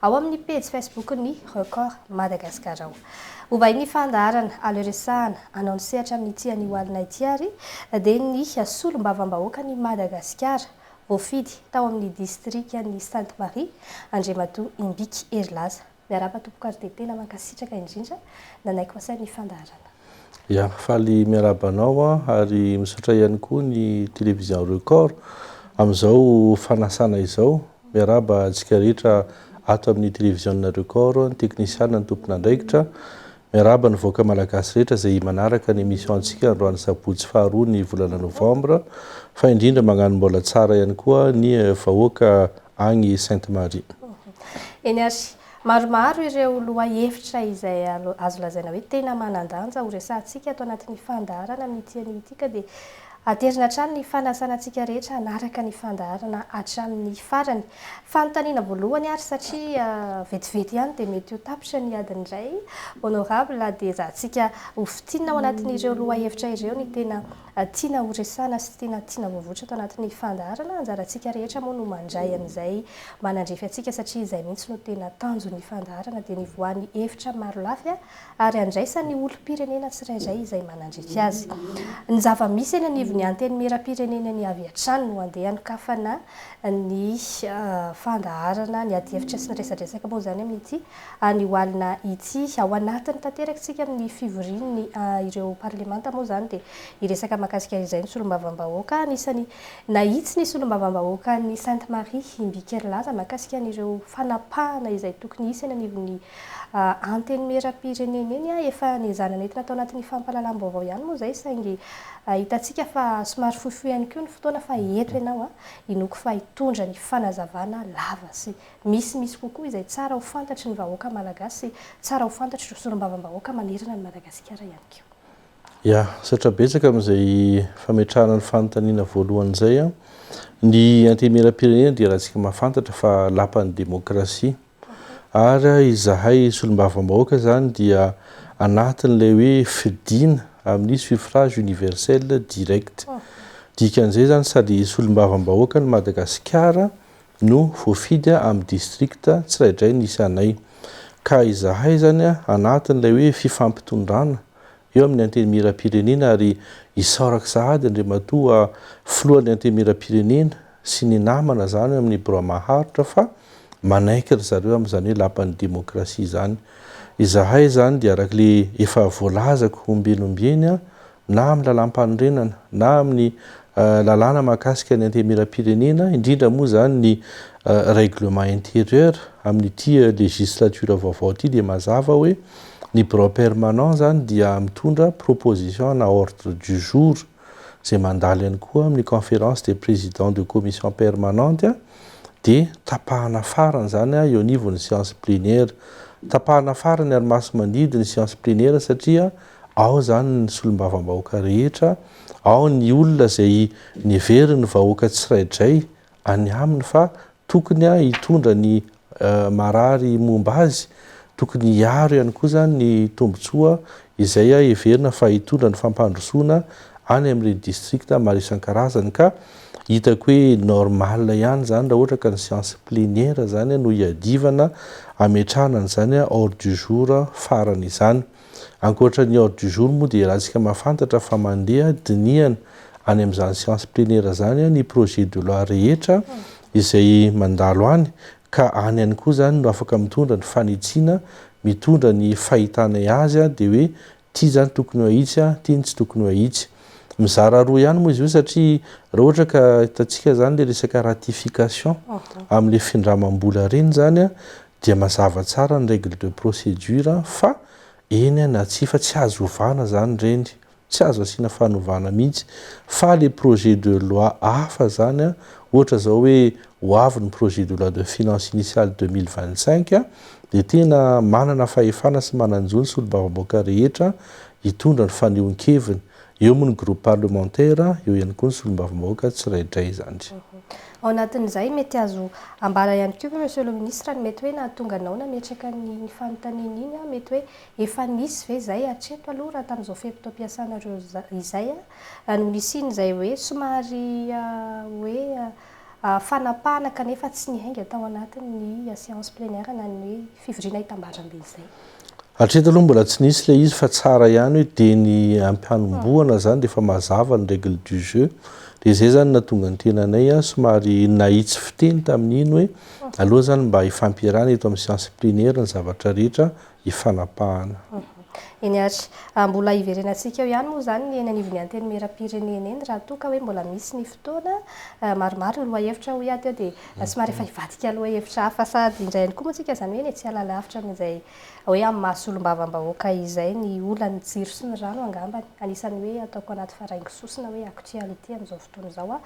Ao amin'ny pejy Facebook-n'ny Record Madagascar ao. Ho vahin'ny fandaharana Aleo resahana anao ny sehatra amin'ity anio alina ity ary dia ny solombavambahoakan'i Madagasikara voafidy tao amin'ny distrikan'i Sainte Marie, Andriamatoa Imbiky Herilaza. Miarahaba tompoko ary dia tena mankasitraka indrindra nanaiky ho asain'ny fandaharana. Ya, faly miarahaba anao an, ary misaotra ihany koa ny Télévision Record amin'izao fanasana izao. Miarahaba antsika rehetra ato amin'ny Télévision-na Record, ny teknisiana, ny tompon'andraikitra. Miarahaba ny vahoaka malagasy rehetra izay manaraka ny émission-ntsika androany sabotsy faharoa ny volana novambra, fa indrindra magnano mbola tsara ihany koa ny vahoaka agny Sainte Marie. Eny ary, Maromaro ireo lohahevitra izay azo lazaina hoe tena manan-danja ho resahantsika ato anatin'ny fandaharana amin'ity anio ity ka dia aterina hatrany ny fanasana antsika rehetra hanaraka ny fandaharana hatramin'ny farany. Fanontaniana voalohany ary satria vetivety ihany dia mety ho tapitra ny adiny iray honorable dia ezahantsika ho fintinina ao anatin'ireo lohahevitra ireo ny tena Tiana ho resahana sy tena tiana voavoatra ato anatin'ny fandaharana. Anjarantsika rehetra moa no mandray an'izay manandrify antsika satria izay mihitsy no tena tanjon'ny fandaharana dia ny voan'ny hevitra marolafy ary andraisan'ny olom-pirenena tsirairay izay manandrify azy. Ny zava-misy eny anivon'ny Antenimierampirenena eny avy hatrany no andeha hanokafana ny fandaharana, ny adihevitra sy ny resadresaka moa izany amin'ity Anio alina itsy ao anatiny tanteraka isika amin'ny fivorian' ny ireo parlemanta moa izany dia hiresaka mahakasika izay ny solombavambahoaka. Anisany nahitsy ny solombavambahoaka ny Sainte Marie i Mbikerilaza mahakasika an' ireo fanapahana izay tokony hisy eny anivon' ny antenimieram-pirenena eny. Efa niezahana nentina tao anatin'ny fampahalalam-baovao ihany moa izay saingy hitantsika fa somary fohifohy ihany koa ny fotoana fa eto ianao hinoako fa hitondra ny fanazavana lava sy Misy misy kokoa izay tsara ho fantatry ny vahoaka Malagasy sy tsara ho fantatr'ireo solombavambahoaka manerana an'i Madagasikara ihany koa. Ya, saotra betsaka amin'izay fametrahana ny fanontaniana voalohany izay an! Ny Antenimierampirenena dia ratsika mahafantatra fa lapan'ny demokrasia. Ary izahay solombavambahoaka izany dia anatin'ilay hoe fidiana amin'ny suffrage universel direct. Dikan'izay izany sady solombavambahoaka ny Madagasikara no voafidy amin'ny district tsiraidraiy ny isanay. Ka izahay izany anatin'ilay hoe fifampitondrana eo amin'ny Antenimierampirenena ary isaorako sahady Andriamatoa Filohan'ny Antenimierampirenena sy ny namana izany amin'ny Birao Maharitra fa manaiky ry zareo amin'izany hoe Lapan'ny Demokrasia izany. Izahay izany dia arak'ilay efa voalazako ombieny ombieny na amin'ny lalàmpanorenana na amin'ny lalàna mahakasika ny antemieram-pirenena, indrindra moa izany ny règlement intérieur amin'ity législature vaovao ity dia mazava hoe ny birao permanent izany dia mitondra proposition na ordre du jour izay mandalo ihany koa amin'ny conférence des présidents de commission permanente dia tapahana farany izany eo anivon'ny séance plénière. Tapahana farany ary masimandidy ny séance plénière satria Ao izany ny solombavambahoaka rehetra, ao ny olona izay neverin'ny vahoaka tsiraidray any aminy fa tokony hitondra ny marary momba azy, tokony hiaro ihany koa izany ny tombontsoa izay heverina fa hitondra ny fampandrosoana any amin'ireny districts maro isan-karazany ka hitako hoe normal ihany izany raha ohatra ka ny seance plénière izany no hiadivana hametrahana an'izany ordre du jour farany izany. Ankoatra ny ordre du jour moa dia ialatsika mahafantatra fa mandeha dinihana any amin'izany séance plénière izany ny projet de loi rehetra izay mandalo any ka any ihany koa izany no afaka mitondra ny fanitsiana, mitondra ny fahitanay azy dia hoe ity izany tokony ho ahitsy, ity no tsy tokony ho ahitsy. Mizara roa ihany moa izy io satria raha ohatra ka hitantsika izany ilay resaka ratification amin'ilay findramam-bola ireny izany dia mazava tsara ny règle de procédure fa eny na tsia fa tsy azo ovana izany ireny, tsy azo asiana fanovana mihitsy fa ilay projet de loi hafa izany ohatra izao hoe ho avy ny projet de loi de finances initiale deux mille vingt cinq dia tena manana fahefana sy manan-jo ny solombavambahoaka rehetra hitondra ny fanehoan-keviny. Eo moa ny groupe parlementaire, eo ihany koa ny solombavambahoaka tsiraidray izany. Ao anatin'izay, mety azo ambara ihany koa ve Monsieur le Ministre ny mety hoe nahatonga anao nametraka an'iny fanontaniana iny, mety hoe efa nisy ve izay hatreto aloha raha tamin'izao fe-potoam-piasanareo izay no nisian'izay hoe somary hoe fanapahana kanefa tsy niainga tao anatin'ny séance plénière na ny hoe Fivoriana hitambarambe izay. Hatreto aloha mbola tsy nisy ilay izy fa tsara ihany hoe dia ny ampihanombohana izany dia efa mazava ny règle du jeu. Dia izay izany nahatonga ny tenanay somary nahitsy fiteny tamin'iny hoe aleo izany mba hifampiarahana eto amin'ny séance plénière ny zavatra rehetra hifanapahana. Eny ary, mbola hiverenantsika eo ihany moa izany ny eny anivon'ny Antenimierampirenena eny raha toa ka hoe mbola misy ny fotoana. Maromaro ny lohahevitra hoy aho teo dia. Somary efa hivadika aloha hevitra hafa sady indray ihany koa moa tsika izany hoe eny e, tsy hiala lavitra amin'izay hoe amin'ny maha solombavambahoaka izay ny olan'ny jiro sy ny rano angambany. Anisan'ny hoe ataoko anaty faraingisosina hoe actuality amin'izao fotoana izao aho,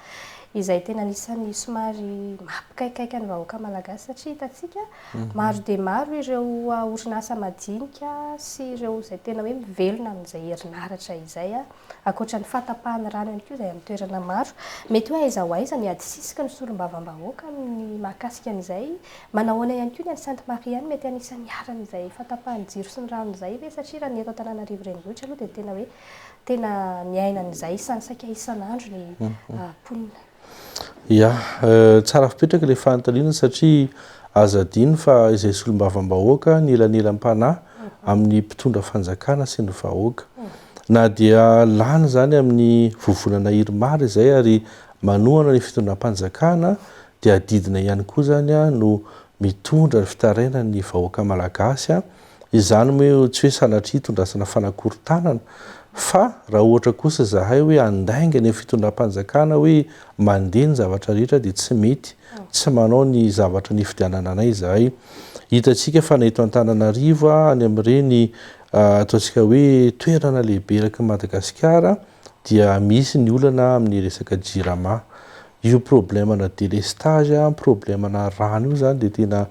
izay tena anisan'ny somary mampikaikaika ny vahoaka malagasy satria hitantsika maro dia maro ireo orinasa madinika sy ireo izay tena hoe mivelona amin'izay herinaratra izay. Ankoatra ny fahatapahan'ny rano ihany koa izay amin'ny toerana maro. Mety hoe aiza ho aiza ny adisisiky ny solombavambahoaka amin'ny mahakasika an'izay? Manahoana ihany koa ny any Sainte Marie any? Mety anisan'ny iharan'izay fahatapahan'ny jiro sy ny rano izay ve? Satria raha ny eto Antananarivo renivohitra aloha dia tena hoe tena miaina an'izay saika isan'andro ny mponina. Ya, tsara fipetraka ilay fanontaniana satria aza adino fa izay solombavambahoaka ny elanelam-panahy amin'ny mpitondra fanjakana sy ny vahoaka. Na dia lany izany amin'ny vovonana Irmar izay ary manohana ny fitondram-panjakana dia adidina ihany koa izany no mitondra ny fitarainan'ny vahoaka malagasy Izany moa tsy hoe sanatria itondrasana fanakorontanana fa raha ohatra kosa izahay hoe handainga eny amin'ny fitondram-panjakana hoe mandeha ny zavatra rehetra dia tsy mety tsy manao ny zavatra nifidianana anay izahay. Hitantsika fa na eto Antananarivo any amin'ireny ataontsika hoe toerana lehibe eraky ny Madagasikara, dia misy ny olana amin'ny resaka jirama. Io problemana délestage, problemana rano io zany dia tena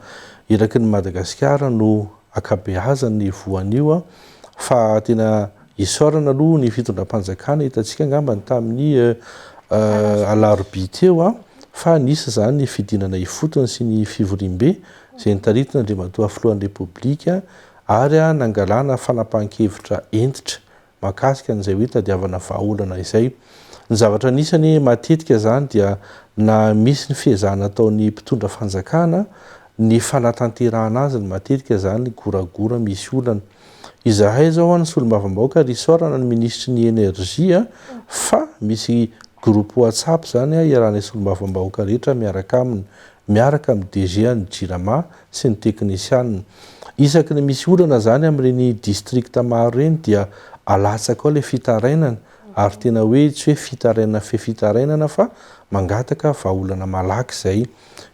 eraky ny Madagasikara no ankabeazany ny voan'io fa tena isaorana aloha ny fitondram-panjakana hitantsika angamba ny tamin'ny alarobia teo fa nisy izany ny fidinana ifotony sy ny fivoriambe izay nitaritina Andriamatoa Filohan'ny Repoblika ary nangalana fanapahan-kevitra hentitra mahakasika an'izay hoe tadiavana vahaolana izay. Ny zavatra anisany matetika izany dia na misy ny fiezahana ataon'ny mpitondra fanjakana ny fanatanterahana azy ny matetika izany goragora misy olana. Izahay izao any solombavambahoaka ary isaorana ny minisitry ny Energie fa misy groupe WhatsApp izany iarahanay solombavambahoaka rehetra miaraka aminy. miaraka amin'ny DG an'ny Jirama sy ny teknisianina. Isaky ny misy olana izany amin'ireny distrikta maro ireny dia alatsaka ao ilay fitarainana ary tena hoe tsy hoe fitarainana fe fitarainana fa mangataka vahaolana malaky izay.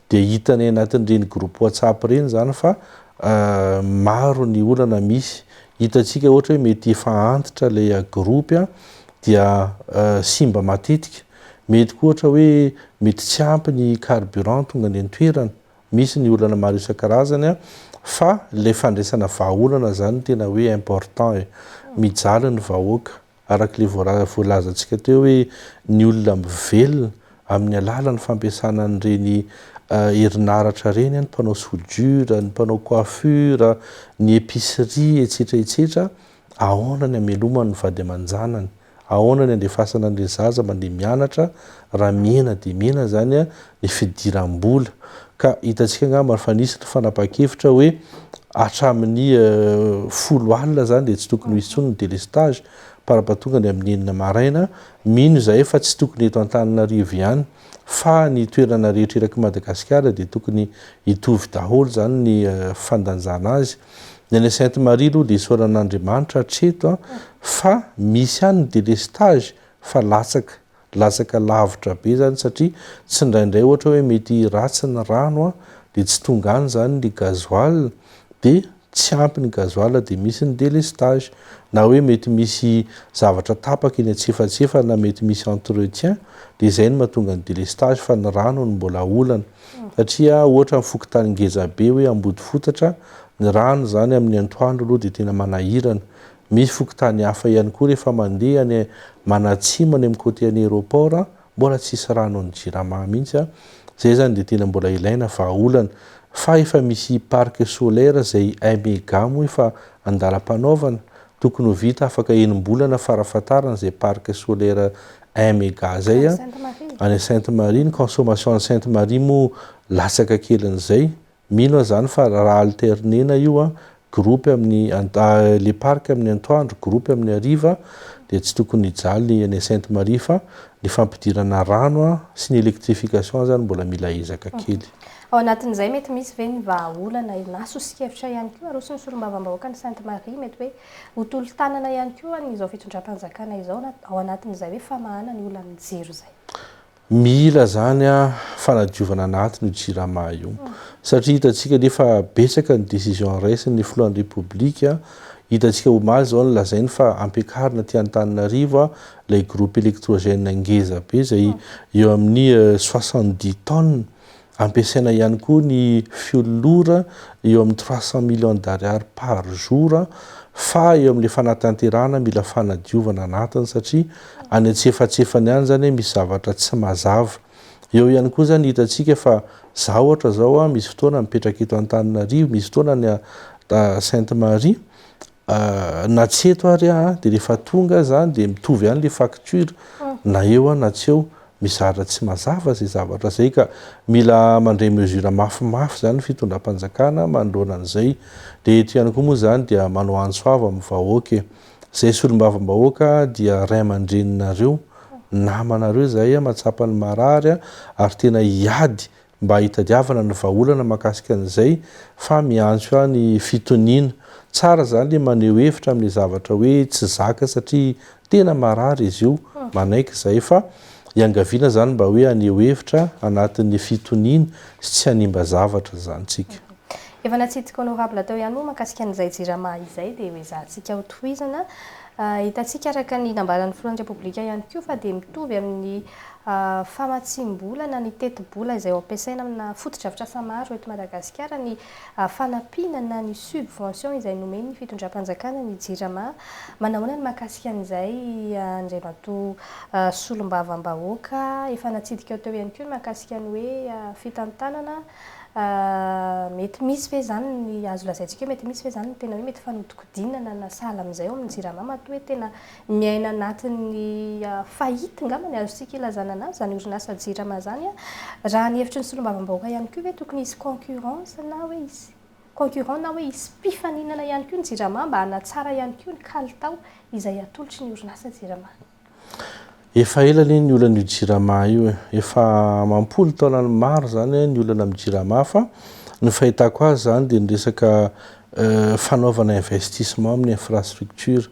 Dia hitanay anatin'ireny groupe WhatsApp ireny izany fa maro ny olana misy. Hitantsika ohatra hoe mety efa antitra ilay groupe dia simba matetika. Mety koa ohatra hoe mety tsy ampy ny carburant tonga any an-toerana. Misy ny olana maro isan-karazany an! Fa ilay fandraisana vahaolana izany no tena hoe important e! Mijaly ny vahoaka, araka ilay voalazantsika teo hoe ny olona mivelona amin'ny alalan'ny fampiasana an'ireny herinaratra ireny, ny mpanao soudure, ny mpanao coiffure, ny epicerie, etsetra etsetra, ahoana ny hamelomany ny vady aman-janany? Ahoana ny andefasana an'ilay zaza mandeha mianatra raha mihena dia mihena izany ny fidiram-bola? Ka hitantsika angamba fa nisy ny fanapahan-kevitra hoe hatramin'ny folo alina izany dia tsy tokony ho hisy intsony ny délestage par ampatonga ny amin'ny enina maraina. Mino izahay fa tsy tokony eto Antananarivo ihany fa ny toerana rehetra eraky Madagasikara dia tokony hitovy daholo izany ny fandanjana azy. Ny any Sainte Marie aloha dia isaorana Andriamanitra hatreto fa misy ihany ny délestage fa latsaka, latsaka lavitra be izany satria tsindraindray ohatra hoe mety ratsy ny rano dia tsy tonga any izany ny gasoil dia tsy ampy ny gasoil dia misy ny délestage na hoe mety misy zavatra tapaka eny antsefatsefana mety misy entretien dia izay no mahatonga ny délestage fa ny rano no mbola olana. satria ohatra ny fokontany ngeza be hoe Ambodifotatra, ny rano zany amin'ny antoandro aloha dia tena manahirana. Misy fokontany hafa ihany koa rehefa mandeha any manatsimo any amin'ny côté an'i aéroport an, mbola tsisy rano an'ny Jirama mihitsy an, zay zany dia tena mbola ilaina vahaolana. Fa efa misy parc solaire zay un mega moa efa andalam-panaovana, tokony ho vita afaka enim-bolana farafahatarany zay parc solaire un mega zay a, any Sainte Marie, ny consommation any Sainte Marie moa latsaka kelin'izay, mino aho zany fa raha alterner-na io a, groupe amin'ny le parc amin'ny antoandro, groupe amin'ny hariva, dia tsy tokony hijaly ny any Sainte Marie fa ny fampidirana rano a sy ny électrification zany mbola mila ezaka kely. Ao anatin'izay mety misy ve ny vahaolana na sosokevitra ihany koa aroson'ny solombavambahoaka any Sainte Marie mety hoe Ho tolo-tanana ihany koa an izao fitondram-panjakana izao na ao anatin'izay hoe famahana ny olan'ny jiro izay. Mila zany an fanadiovana anatiny io jirama io satria hitantsika anie fa betsaka ny décision raisin ny filohan'ny repoblika hitantsika omaly zao nilazainy fa ampiakarina aty Antananarivo an ilay groupe électrogène ngeza be izay eo amin'ny soixante dix tonnes Ampiasaina ihany koa ny fiololora eo amin'ny trois cents millions d'ariary par jour fa eo amin'ilay fanatanterahana mila fanadiovana anatiny satria any antsefatsefany any izany misy zavatra tsy mazava. Eo ihany koa izany hitantsika fa izaho ohatra izao misy fotoana mipetraka eto Antananarivo, misy fotoana any Sainte Marie Ahh na tsy eto ary ah de rehefa tonga aza ah de mitovy ihany le facture na eo ah na tsy eo, mizara tsy mazava zay zavatra zay ka mila mandray mesure mafimafy zany ny fitondram-panjakana manoloana an'izay, de eto ihany koa moa zany dia manao antso avo amin'ny vahoaka e! Zay solombavambahoaka ah dia ray aman-dreninareo, namanareo zahay ah mahatsapa ny marary ah ary tena hiady mba hitadiavana ny vahaolana mahakasika an'izay fa miantso ahy ny fitoniana. Tsara izany ilay maneho hevitra amin'ilay zavatra hoe tsy zaka satria tena marary izy io, manaiky izahay fa iangaviana izany mba hoe haneho hevitra anatin'ny fitoniana sy tsy hanimba zavatra izany tsika. Efa natsidika honorable teo ihany moa mahakasika an'izay jirama izay dia hoezahantsika hotohizana. Hitantsika araka ny nambaran'ny filohan'ny Repoblika ihany koa fa dia mitovy amin'ny famatsiam-bola na ny tetibola izay ho ampiasaina amina fotodrafitrasa maro eto Madagasikara ny fanampiana na ny subvention izay nomen'ny fitondram-panjakana ny Jirama. Manahoana ny mahakasika an'izay Andriamatoa Solombavambahoaka? Efa natsidika teo ihany koa ny mahakasika ny hoe fitantanana. Mety misy ve izany ny azo lazaintsika hoe mety misy ve izany ny tena hoe mety fanodikodinana na sahala amin'izay ao amin'ny Jirama matoa hoe tena miaina anatin'ny faillite angamba ny azontsika ilazana anazy izany orinasa Jirama izany. Raha ny hevitry ny solombavambahoaka ihany koa ve tokony hisy concurrence na hoe hisy concurrent na hoe hisy mpifaninana ihany koa ny Jirama mba hanatsara ihany koa ny kalitao izay atolotry ny orinasa Jirama. Efa ela anie ny olana io jirama io e, efa amam-polo taonany maro zany ny olana amin'ny jirama fa ny fahitako azy zany dia ny resaka fanaovana investissement amin'ny infrastructure,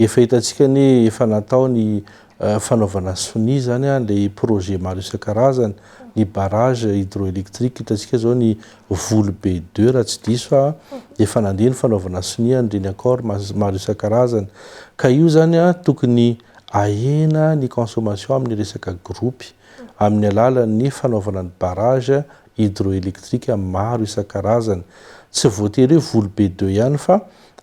efa hitantsika anie efa natao ny fanaovana sonia zany ilay projet maro isan-karazany, ny barrage hydroélectrique, hitantsika zao ny Volo be deux raha tsy diso aho a, efa nandeha ny fanaovana sonia an'ireny accord maro isan-karazany. Ka io izany tokony ahena ny consommation amin'ny resaka gropy amin'ny alalan'ny fanaovana ny barrage hydroélectrique maro isan-karazany. Tsy voatery hoe volo be deux ihany fa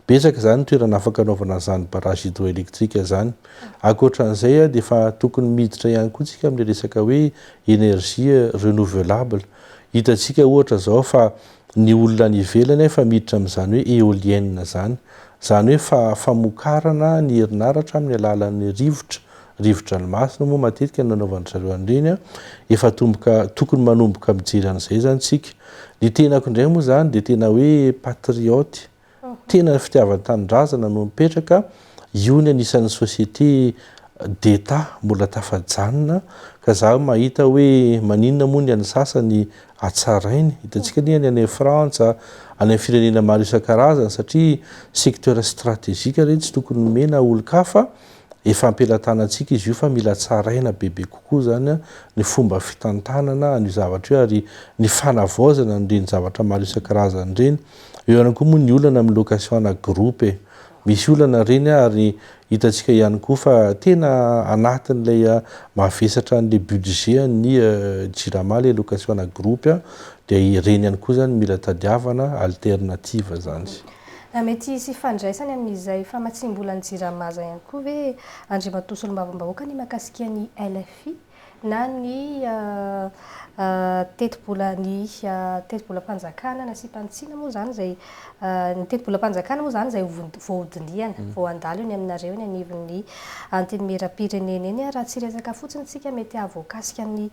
betsaka izany ny toerana afaka anaovana an'izany barrage hydroélectrique izany. Ankoatra an'izay dia efa tokony miditra ihany koa isika amin'ny resaka hoe énergie renouvelable. Hitantsika ohatra zao fa ny olona any ivelany efa miditra amin'izany hoe eoliennes zany, zany hoe fa famokarana ny herinaratra amin'ny alalan'ny rivotra, rivodranomasina moa matetika no nanaovan-dry zareo an'ireny an, efa atomboka, tokony manomboka mijery an'izay zany tsika. Ny tenako indray moa zany dia tena hoe patriote, Tena ny fitiavan-tanindrazana no mipetraka, io ny anisan'ny société d'Etat mbola tafajanona ka za mahita hoe maninona moa ny an'ny sasany hatsarainy, hitantsika anie ny any Frantsa, any amin'ny firenena maro isan-karazany satria secteur stratégique ireny tsy tokony omena olon-kafa, efa am-pelatanantsika izy io fa mila tsaraina bebe kokoa izany ny fomba fitantanana an'io zavatra io ary ny fanavaozana an'ireny zavatra maro isan-karazany ireny. Eo ihany koa moa ny olana amin'ny location ana groupe e. Misy olana ireny ary hitantsika ihany koa fa tena anatin'ilay mahavesatra an'ilay budget-n'ny Jirama ilay location ana groupe dia ireny ihany koa izany mila tadiavana, alternative izany. Mety hisy ifandraisany amin'izay famatsiam-bolan'ny Jirama izay ihany koa ve Andriamatoa Solombavambahoaka ny mahakasika ny LFI? na ny tetibolan'ny tetibolam-panjakana nasiam-panitsiana moa izany izay, ny tetibolam-panjakana moa izany izay voahodinihana, vao handalo eny aminareo eny anivon'ny Antenimierampirenena eny ary raha tsy hiresaka fotsiny isika mety hahavoakasika ny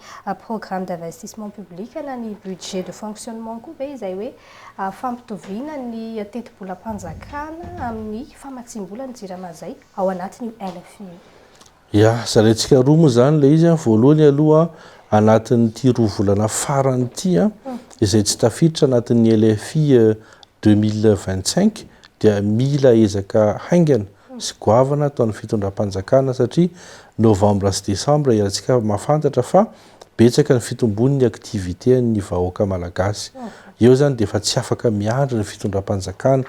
programme d'investissement public na ny budget de fonctionnement koa ve izay hoe fampitoviana ny tetibolam-panjakana amin'ny famatsiam-bola ny Jirama izay ao anatin'io LFI io? Ya, zalaintsika roa moa izany ilay izy an, voalohany aloha anatin'ity roa volana farany ity an, izay tsy tafiditra anatin'ny LFI 2025 dia mila ezaka haingana sy goavana ataon'ny fitondram-panjakana satria novambra sy desambra iarahantsika mahafantatra fa Betsaka ny fitombony ny activité an'ny vahoaka malagasy. Eo zany dia efa tsy afaka miandry ny fitondram-panjakana.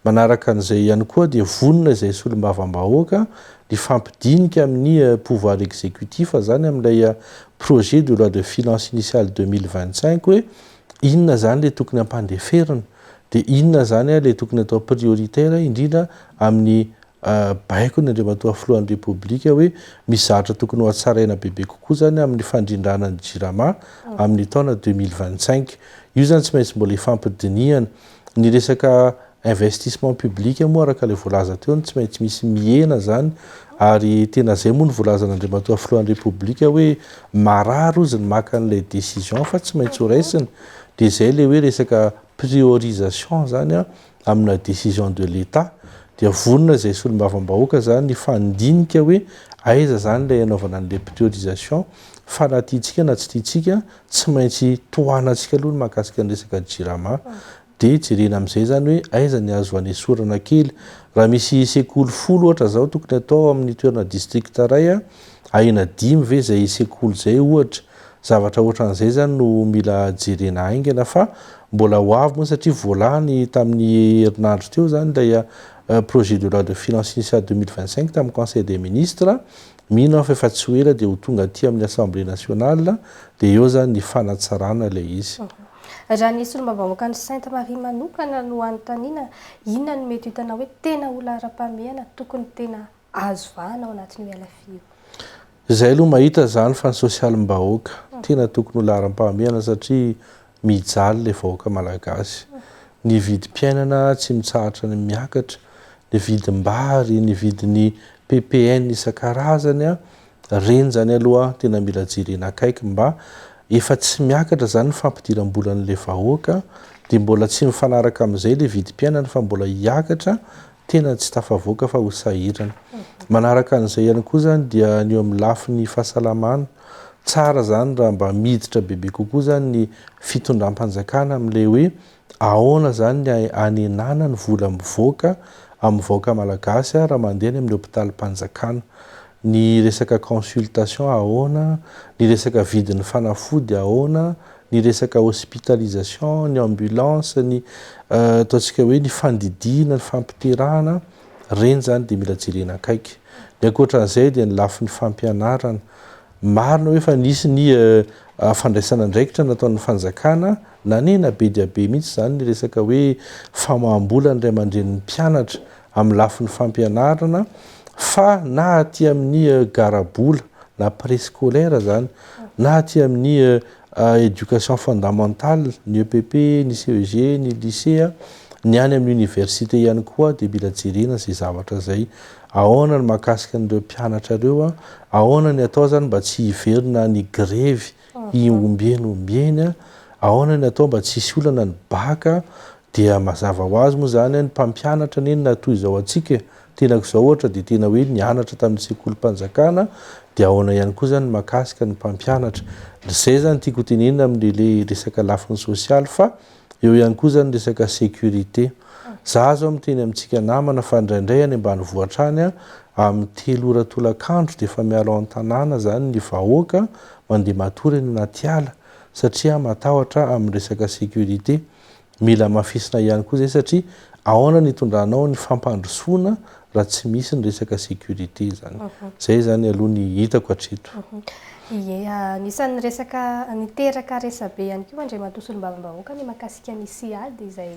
Manaraka an'izay ihany koa dia vonona izay solombavambahoaka hifampidinika amin'ny pouvoir exécutif zany amin'ilay projet de loi de finances initiale deux mille vingt cinq hoe inona zany ilay tokony hampandeferina dia inona zany ilay tokony atao prioritaire indrindra amin'ny Baikony Andriamatoa Filohan'ny Repoblika hoe misy zavatra tokony ho hatsaraina bebe kokoa izany amin'ny fandrindrana ny Jirama amin'ny taona deux mille vingt cinq. Io izany tsy maintsy mbola hifampidinihana. Ny resaka investissement public moa araka ilay voalaza teo no tsy maintsy misy mihena izany ary tena izay moa no voalazan'Andriamatoa Filohan'ny Repoblika hoe marary ozy ny maka an'ilay décision fa tsy maintsy ho raisina dia izay ilay hoe resaka priorisation izany amina décision de l'Etat dia vonona izay solombavambahoaka izany hifandinika hoe aiza izany ilay hanaovana an'ilay priorisation fa na tiantsika na tsy tiantsika tsy maintsy tohanantsika aloha ny mahakasika ny resaka jirama dia jerena amin'izay izany hoe aiza ny azo hanesorana kely raha misy sekoly folo ohatra izao tokony atao amin'ny toerana district iray a ahena dimy ve izay sekoly izay ohatra Zavatra ohatran'izay zany no mila jerena haingana fa mbola ho avy moa satria voalany tamin'ny herinandro teo zany ilay projet de loi de finances initiale deux mille vingt cinq tamin'ny conseil des ministres. Mino aho fa efa tsy ho ela dia ho tonga aty amin'ny assemblée nationale dia eo zany ny fanatsarana ilay izy. Raha ny solombavambahoakan'i Sainte Marie manokana no hanontaniana, inona no mety ho hitanao hoe tena olona ara-pahamehana tokony tena azo vahana ao anatin'io LFI io. Zay aloha mahita zany fa ny sosialim-bahoaka tena tokony ho laharam-pahamehana satria mijaly le vahoaka malagasy. Ny vidim-piainana tsy mitsahatra ny miakatra, ny vidim-bary, ny vidin'ny ppn isan-karazany an! Reny zany aloha tena mila jerena akaiky mba efa tsy miakatra zany ny fampidiram-bolan'le vahoaka de mbola tsy mifanaraka amin'izay le vidim-piainana fa mbola hiakatra tena tsy tafavoaka fa ho sahirana. Manaraka an'izay ihany koa izany dia ny eo amin'ny lafiny fahasalamana, tsara izany raha mba miditra bebe kokoa izany ny fitondram-panjakana amin'ilay hoe ahoana izany ny hanenana ny vola mivoaka amin'ny vahoaka malagasy raha mandeha any amin'ny hopitalim-panjakana. Ny resaka consultation ahoana, ny resaka vidin'ny fanafody ahoana, ny resaka hospitalisation, ny ambulance, ny ataontsika hoe ny fandidiana, ny fampiterahana, ireny izany dia mila jerena akaiky. Ny ankoatra an'izay dia ny lafiny fampianarana. Marina hoe efa nisy ny fandraisana andraikitra nataon'ny fanjakana, nanena be dia be mihitsy izany ny resaka hoe famaham-bola ny ray aman-drenin'ny mpianatra amin'ny lafiny fampianarana fa na aty amin'ny garabola na préscolaire zany na aty amin'ny éducation fondamentale ny EPP, ny CEG, ny lycée, ny any amin'ny université ihany koa dia mila jerena izay zavatra izay. Ahoana ny mahakasika an'ireo mpianatra ireo, ahoana ny atao zany mba tsy hiverina any grevy ny ombieny ombieny aona ny atao mba tsy hisy olana ny bac dia mazava ho azy moa izany ny mpampianatra anie na toy izao antsika e tenako izao ohatra dia tena hoe nianatra tamin'ny sekolim-panjakana dia aona ihany koa izany ny makasika ny mpampianatra izay izany tiako ho tenenina amin'ilay resaka lafiny sosialy fa Eo ihany koa izany resaka sécurité. Za zao miteny amintsika namana fa indraindray any ambanivohitra any a, amin'ny telo ora tolakandro dia efa miala ao an-tanàna zany ny vahoaka mandeha matory any anaty ala satria matahotra amin'ny resaka sécurité. Mila amafisina ihany koa izay satria ahoana ny itondranao ny fampandrosoana raha tsy misy ny resaka sécurité izany. Izay izany aloha ny hitako hatreto. Ie, anisan'ny resaka niteraka resabe ihany koa Andriamatoa Solombavambahoaka ny mahakasika ny CIAD izay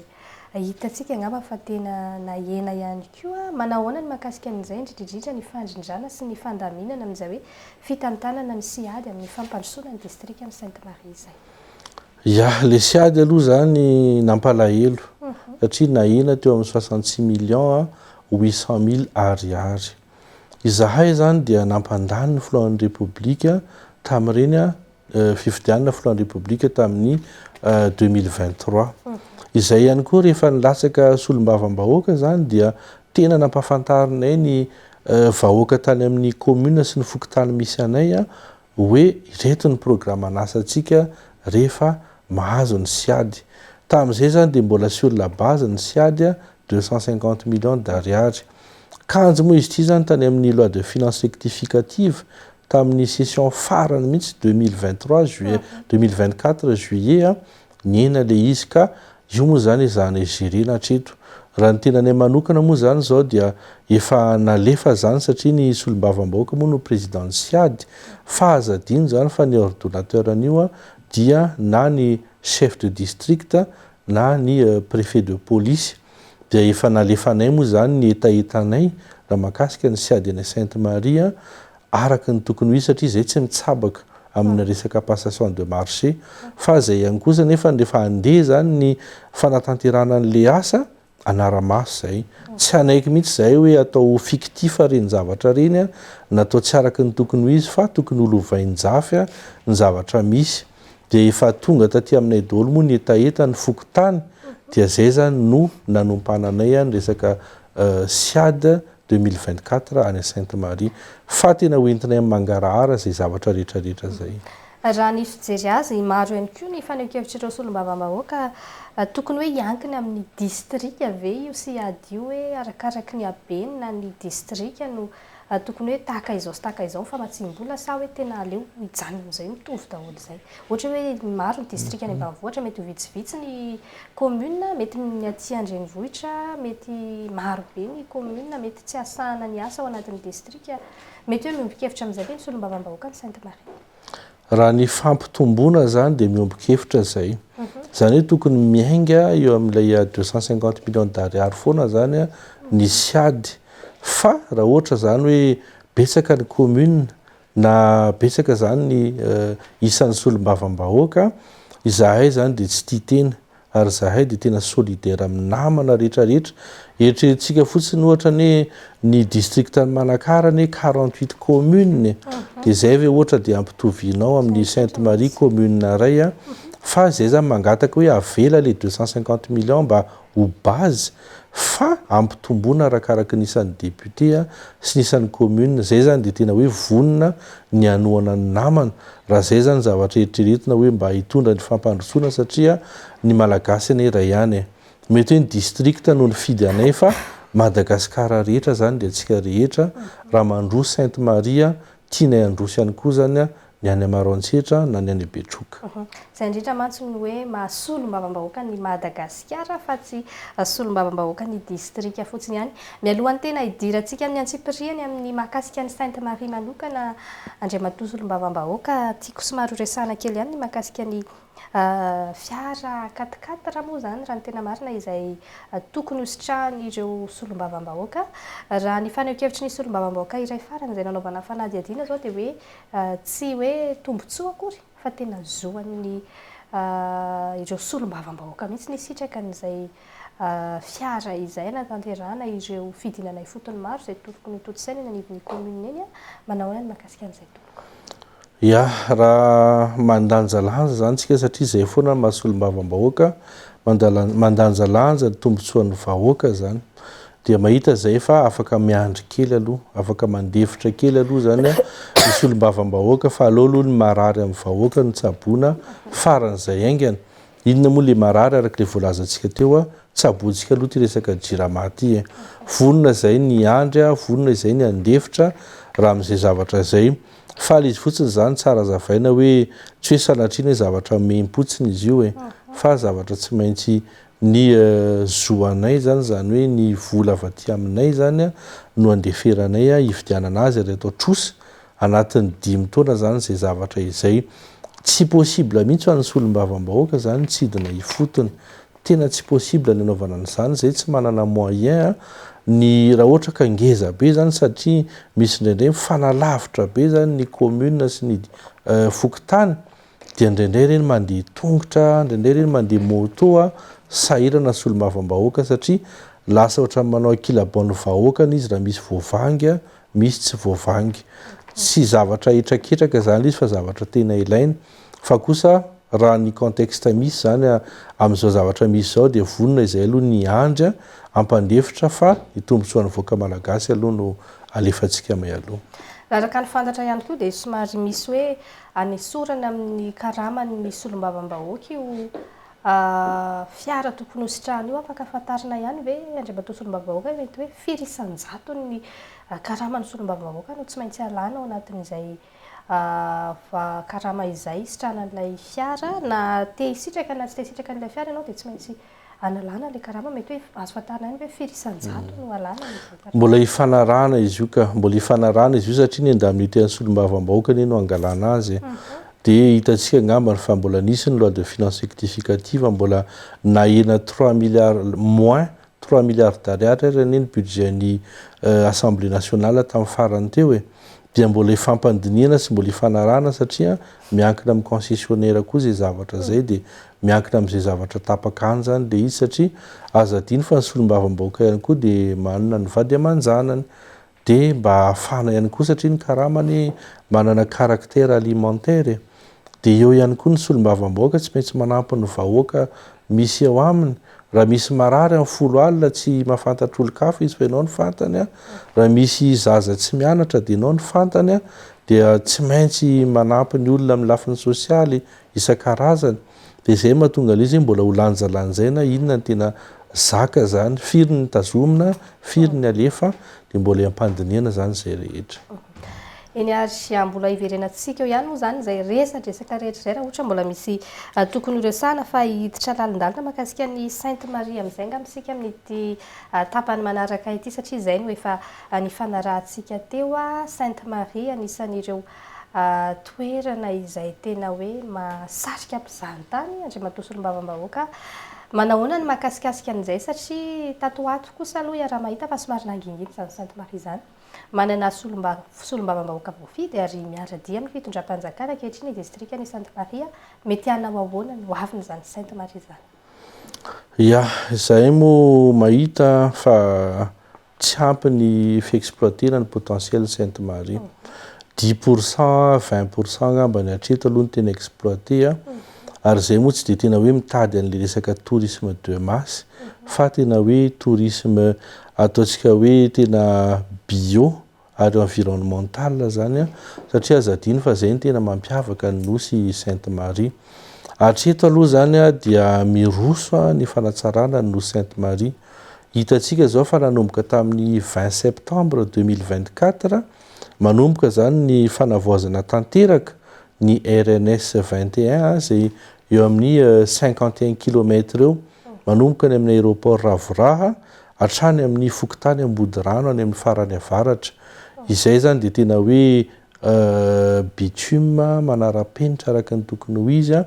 hitantsika angamba fa tena nahena ihany koa. Manao ahoana ny mahakasika an'izay indridridrindra ny fandrindrana sy ny fandaminana amin'izay hoe fitantanana ny CIAD amin'ny fampandrosoana ny distrikan'i Sainte Marie izay? Ya, lesy ady aloha izany nampalahelo satria nahena teo amin'ny soixante six millions huit cent mille Ariary. Izahay izany dia nampandany ny filohan'ny Repoblika tamin'ireny fifidianana filohan'ny Repoblika tamin'ny deux mille vingt trois. Izay ihany koa rehefa nilatsaka solombavambahoaka izany dia tena nampahafantarinay ny vahoaka tany amin'ny commune sy ny fokontany misy anay hoe ireto ny programan'asantsika rehefa mahazo ny CIAD. Tamin'izay izany dia mbola sur la base ny CIAD deux cent cinquante millions d'ariary. Kanjo moa izy ity izany tany amin'ny loi de finances rectificative tamin'ny session farany mihitsy deux mille vingt trois juillet deux mille vingt quatre juillet Niaina le izy ka, io moa zany ezahana igerena hatreto. Raha ny tenanay manokana moa zany zao dia efa nalefa zany satria ny solombavambahoaka moa no président ny siady fa aza adino zany fa ny ordonnateur an'io an dia na ny chef de district na ny préfet de police dia efa nalefanay moa zany ny hetahetanay raha mahakasika ny siady any Sainte Marie araka ny tokony ho izy satria izay tsy mitsabaka amina resaka passation de marché fa izay ihany koa izany efa rehefa handeha izany ny fanatanterahana an'ilay asa hanara-maso izay tsy hanaiky mihitsy izay hoe atao fictif ireny zavatra ireny a natao tsy araka ny tokony ho izy fa tokony ho lovain-jafy a ny zavatra misy dia efa tonga taty aminay daholo moa ny hetaheta ny fokontany dia izay izany no nanompananay a ny resaka siad deux mille vingt quatre any Sainte Marie fa tena ho entinay amin'ny mangarahara izay zavatra rehetra rehetra izay. Raha ny fijery azy, maro ihany koa ny fanehoan-kevitr'ireo solombavambahoaka, tokony hoe hiankina amin'ny distrika ve io sy hadio hoe arakaraky ny habeny na ny distrika no tokony hoe tahaka izao sy tahaka izao ny famatsiam-bola sa hoe tena aleo hijanona amin'izay mitovy daholo izay. Ohatra hoe maro ny distrika any ambanivohitra mety ho vitsivitsy ny Commune mety ny aty an-drenivohitra mety maro be ny commune mety tsy asahana ny asa ao anatin'ny district. Mety hoe miombon-kevitra amin'izay ve ny solombavambahoakan'i Sainte Marie? Raha ny fampitomboana izany dia miombon-kevitra izay. Izany hoe tokony miainga eo amin'ilay deux cent cinquante millions d'ariary foana izany ny siady. Fa raha ohatra izany hoe betsaka ny commune Na betsaka izany ny isan'ny solombavambahoaka, izahay izany dia tsy tia tena ary izahay dia tena solidaire amin'ny namana rehetra rehetra. Eritreretintsika fotsiny ohatra anie ny districtn'i Manakara anie quarante huit communes dia izay ve ohatra dia ampitovianao amin'ny Sainte Marie commune iray fa izay izany mangataka hoe avela ilay deux cent cinquante millions mba ho base fa ampitomboina arakaraky ny isan'ny député sy ny isan'ny commune izay izany dia tena hoe vonona ny hanohana ny namana raha izay izany zavatra eritreretina hoe mba hitondra ny fampandrosoana satria ny malagasy anie iray ihany e! mety hoe ny district no nifidy anay fa Madagascar rehetra izany dia antsika rehetra raha mandroa Sainte Maria Tianay handroso ihany koa izany ny any Maroantsetra na ny any Betroka. Izay indrindra mantsy no hoe maha solombavambahoaka an'i Madagasikara fa tsy solombavambahoaka ny distrika fotsiny ihany. Mialohan'ny tena hidirantsika amin'ny antsipirihany amin'ny mahakasika an'i Sainte Marie manokana Andriamatoa Solombavambahoaka, tiako somary horesahana kely ihany ny mahakasika ny Fiara quatre quatre moa izany raha ny tena marina izay tokony hositrahan'ireo solombavambahoaka. Raha ny fanehoan-kevitry ny solombavambahoaka iray farany izay nanaovana fanadihadiana izao dia hoe tsy hoe tombontsoa akory fa tena zo an'ny ireo solombavambahoaka mihitsy ny hisitraka an'izay fiara izay hanatanterahana ireo fidinana ifotony maro izay tokony hotontosaina eny anivon'ny commune eny. Manao ahoana ny mahakasika an'izay tompoko? Ya, raha mandanjalanja izany isika satria izay foana no maha solombavambahoaka, mandanjalanja ny tombotsoan'ny vahoaka izany, dia mahita izay fa afaka miandry kely aloha, afaka mandefitra kely aloha izany ny solombavambahoaka fa aleo aloha ny marary amin'ny vahoaka no tsaboina faran'izay haingana. Inona moa ilay marary araka ilay voalazantsika teo, tsabointsika aloha ity resaka Jirama ity e! Vonona izay ny hiandry, vonona izay ny handefitra raha amin'izay zavatra izay Faly izy fotsiny zany tsara azavaina hoe tsy hoe sanatria ny hoe zavatra mihimpotsiny izy io e fa zavatra tsy maintsy ny zo anay zany zany hoe ny vola avy aty aminay zany a no andeferanay a hividianana azy ary atao trosa anatin'ny dimy taona zany izay zavatra izay tsy possible mihitsy ho an'ny solombavambahoaka zany mitsidina ifotony Tena tsy possible ny anaovana an'izany zay tsy manana moyen a, ny raha ohatra ka ngeza be zany satria misy indraindray mifanalavitra be zany ny commune sy ny fokontany dia indraindray ireny mandeha tongotra, indraindray ireny mandeha moto a, sahirana solombavambahoaka satria lasa ohatran'ny manao ankilabao ny vahoakany izy raha misy voavangy a, misy tsy voavangy. Tsy zavatra hitrakitraka izany ilay izy fa zavatra tena ilaina. Fa kosa raha ny contexte misy izany amin'izao zavatra misy izao dia vonona izay aloha ny hiandry hampandefitra fa ny tombontsoan'ny vahoaka malagasy aloha no alefantsika mialoha. Raha araka ny fantatra ihany koa dia somary misy hoe anesorana amin'ny karamany ny solombavambahoaka io A, fiara tokony hositrahana io afaka fantarina ihany ve Andriamatoa Solombavambahoaka mety hoe firy isan-jatony ny karaman'ny Solombavambahoaka no tsy maintsy alana ao anatin'izay karama izay hisitrahana an'ilay fiara? Na te hisitraka na tsy te hisitraka an'ilay fiara ianao dia tsy maintsy analana ilay karama, mety hoe azo fantarina ihany ve firy isan-jatony no alana amin'izay karama? Mbola hifanarahana izy io ka, mbola hifanarahana izy io satria ny indemnité an'ny Solombavambahoaka anie no hangalana azy e. Dia hitantsika angambany fa mbola nisy ny loi de finance rectificative mbola nahena trois milliards moins trois milliards d'ariary ary anie ny budget ny assemblée nationale tamin'ny farany teo e! dia mbola hifampandinihana sy mbola hifanarahana satria miankina amin'ny concessionnaire koa izay zavatra izay dia miankina amin'izay zavatra tapaka any izany ilay izy satria aza adino fa ny solombavambahoaka ihany koa dia manana ny vady aman-janany Dia mba hahafana ihany koa satria ny karama anie manana caractère alimentaire e! Dia eo ihany koa ny solombavambahoaka tsy maintsy manampy ny vahoaka misy eo aminy, raha misy marary amin'ny folo alina tsy mahafantatr' olon-kafa izy fa ianao no fantany a! Raha misy zaza tsy mianatra dia ianao no fantany a! Dia tsy maintsy manampy ny olona amin'ny lafiny sosialy isan-karazany. dia izay mahatonga ilay izy hoe mbola ho lanjalanjaina inona ny tena zaka izany, firy ny tazomina, firy ny alefa, dia mbola hiampandinihana izany izay rehetra. Eny ary ah, mbola hiverenantsika eo ihany moa izany izay resadresaka rehetra izay raha ohatra mbola misy ah, tokony horesahana fa hiditra lalindalina makasika ny Sainte Marie amin'izay angamba isika amin'ity ah, tapany manaraka ity satria izay no efa nifanarahantsika teo. Sainte Marie anisan'ireo toerana izay tena hoe mahasarika mpizahatany, Andriamatoa Solombavambahoaka, manahoana ny mahakasikasika an'izay satria tato ho ato kosa aloha iaraha-mahita fa somary nangingina izany Sainte Marie izany, manana Solombavambahoaka voafidy ary miara-dia amin'ny fitondram-panjakana ankehitriny ny distrikan'i Sainte Marie, mety hanao ahoana ny ho avin'izany Sainte Marie izany? Ya, izahay moa mahita fa Tsy ampy ny fi-exploiter-na ny potentiel-n'i Sainte Marie. Dix pour cent, vingt pour cent angambany hatreto aloha no tena exploiter a. Ary izay moa tsy dia tena hoe mitady an'ilay resaka tourisme de masse fa tena hoe tourisme ataontsika hoe tena bio. ary environnemental izany an, satria aza adino fa izay no tena mampiavaka ny nosy Sainte Marie. Hatreto aloha izany dia miroso ny fanatsarana ny nosy Sainte Marie. Hitantsika izao fa nanomboka tamin'ny vingt septembre deux mille vingt quatre, manomboka izany ny fanavaozana tanteraka ny RNS vingt et un izay eo amin'ny cinquante et un kilomètre eo, manomboka any amin'ny aéroport Ravoraha hatrany amin'ny fokontany Ambodirano any amin'ny farany avaratra. Izay izany dia tena hoe bitume manara-penitra araka ny tokony ho izy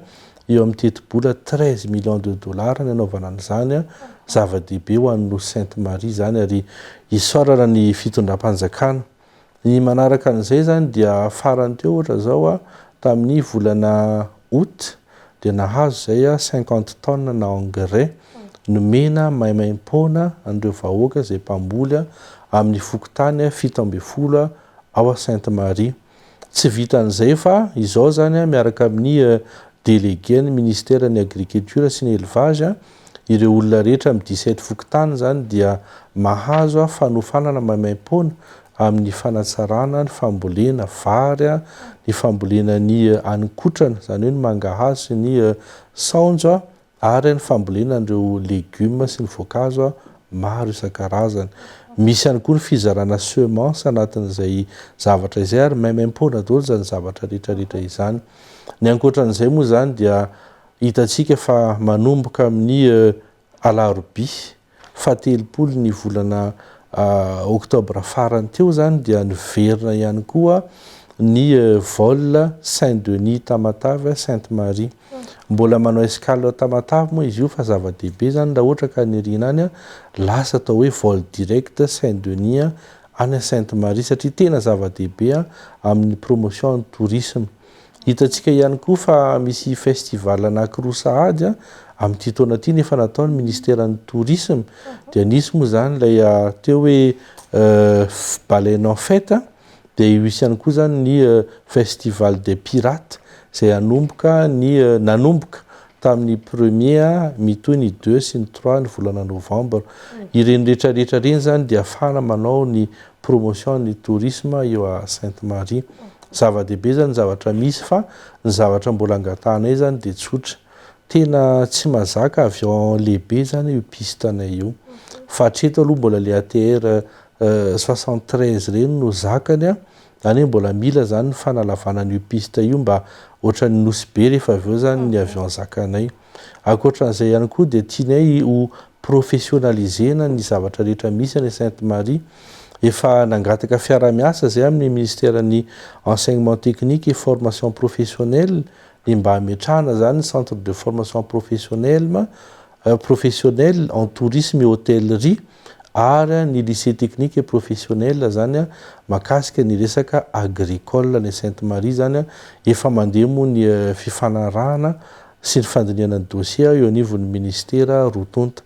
eo amin'ny tetibola treize millions de dollars ny hanaovana an'izany. Zava-dehibe ho an'i Nosy Sainte Marie izany ary isaorana ny fitondram-panjakana. Ny manaraka an'izay izany dia farany teo ohatra izao tamin'ny volana aout dia nahazo izay cinquante tonnes na engrais nomena maimaimpoana an'ireo vahoaka izay mpamboly amin'ny fokontany fito ambin'ny folo ao Sainte Marie. Tsy vitan'izay fa izao izany miaraka amin'ny délégué ny minisiteran'ny agriculture sy ny élevage Ireo olona rehetra amin'ny dix sept fokontany izany dia mahazo fanofanana maimaim-poana amin'ny fanatsarana ny fambolena vary, ny fambolena ny haninkotrana, izany hoe ny mangahazo sy ny saonjo ary ny fambolena an'ireo legioma sy ny voankazo maro isan-karazany. Misy ihany koa ny fizarana semences anatin'izay zavatra izay ary maimaim-poana daholo izany zavatra rehetra rehetra izany. Ny ankoatra an'izay moa izany dia Hitantsika fa manomboka amin'ny alarobia fahatelopolo ny volana oktobra farany teo izany dia niverina ihany koa ny vol Saint Denis Tamatave Sainte Marie. Mbola manao escale Tamatave moa izy io fa zava-dehibe izany raha ohatra ka niriana any lasa atao hoe vol direct Saint Denis any Sainte Marie satria tena zava-dehibe amin'ny promotion ny tourisme. Hitantsika ihany koa fa misy festival anankiroa sahady amin'ity taona ity nefa nataon'ny ministeran'ny tourisme dia nisy moa izany ilay ateo hoe baleine en fête dia io ihany koa izany ny festival des pirates izay hanomboka ny nanomboka tamin'ny premier mitohy ny deux sy ny trois ny volana novembre ireny rehetra rehetra ireny izany dia afahana manao ny promotion ny tourisme eo à Sainte Marie. Zava-dehibe zany zavatra misy fa ny zavatra mbola angatahanay zany dia tsotra. Tena tsy mazaka avy ao en lehibe zany io piste anay io. Fa hatreto aloha mbola le ATR soixante treize ireny no zakany an. Zany hoe mbola mila zany ny fanalavana an'io piste io mba ohatran'ny nosy be rehefa avy eo zany ny avion zakanay. Ankoatran'izay ihany koa dia tianay ho professionnalisena ny zavatra rehetra misy any Sainte Marie. Efa nangataka fiarahamiasa izay amin'ny Minisiteran'ny Enseignement Technique et Formation Professionnelle ny mba hametrahana izany ny Centre de Formation Professionnelme, Professionnelle en Tourisme et Hôtellerie. ary ny lycée technique et professionnel zany makasika ny resaka agricole any Sainte Marie izany efa mandeha moa ny fifanarahana sy ny fandinihana ny dossier eo anivon'ny ministera roa tonta.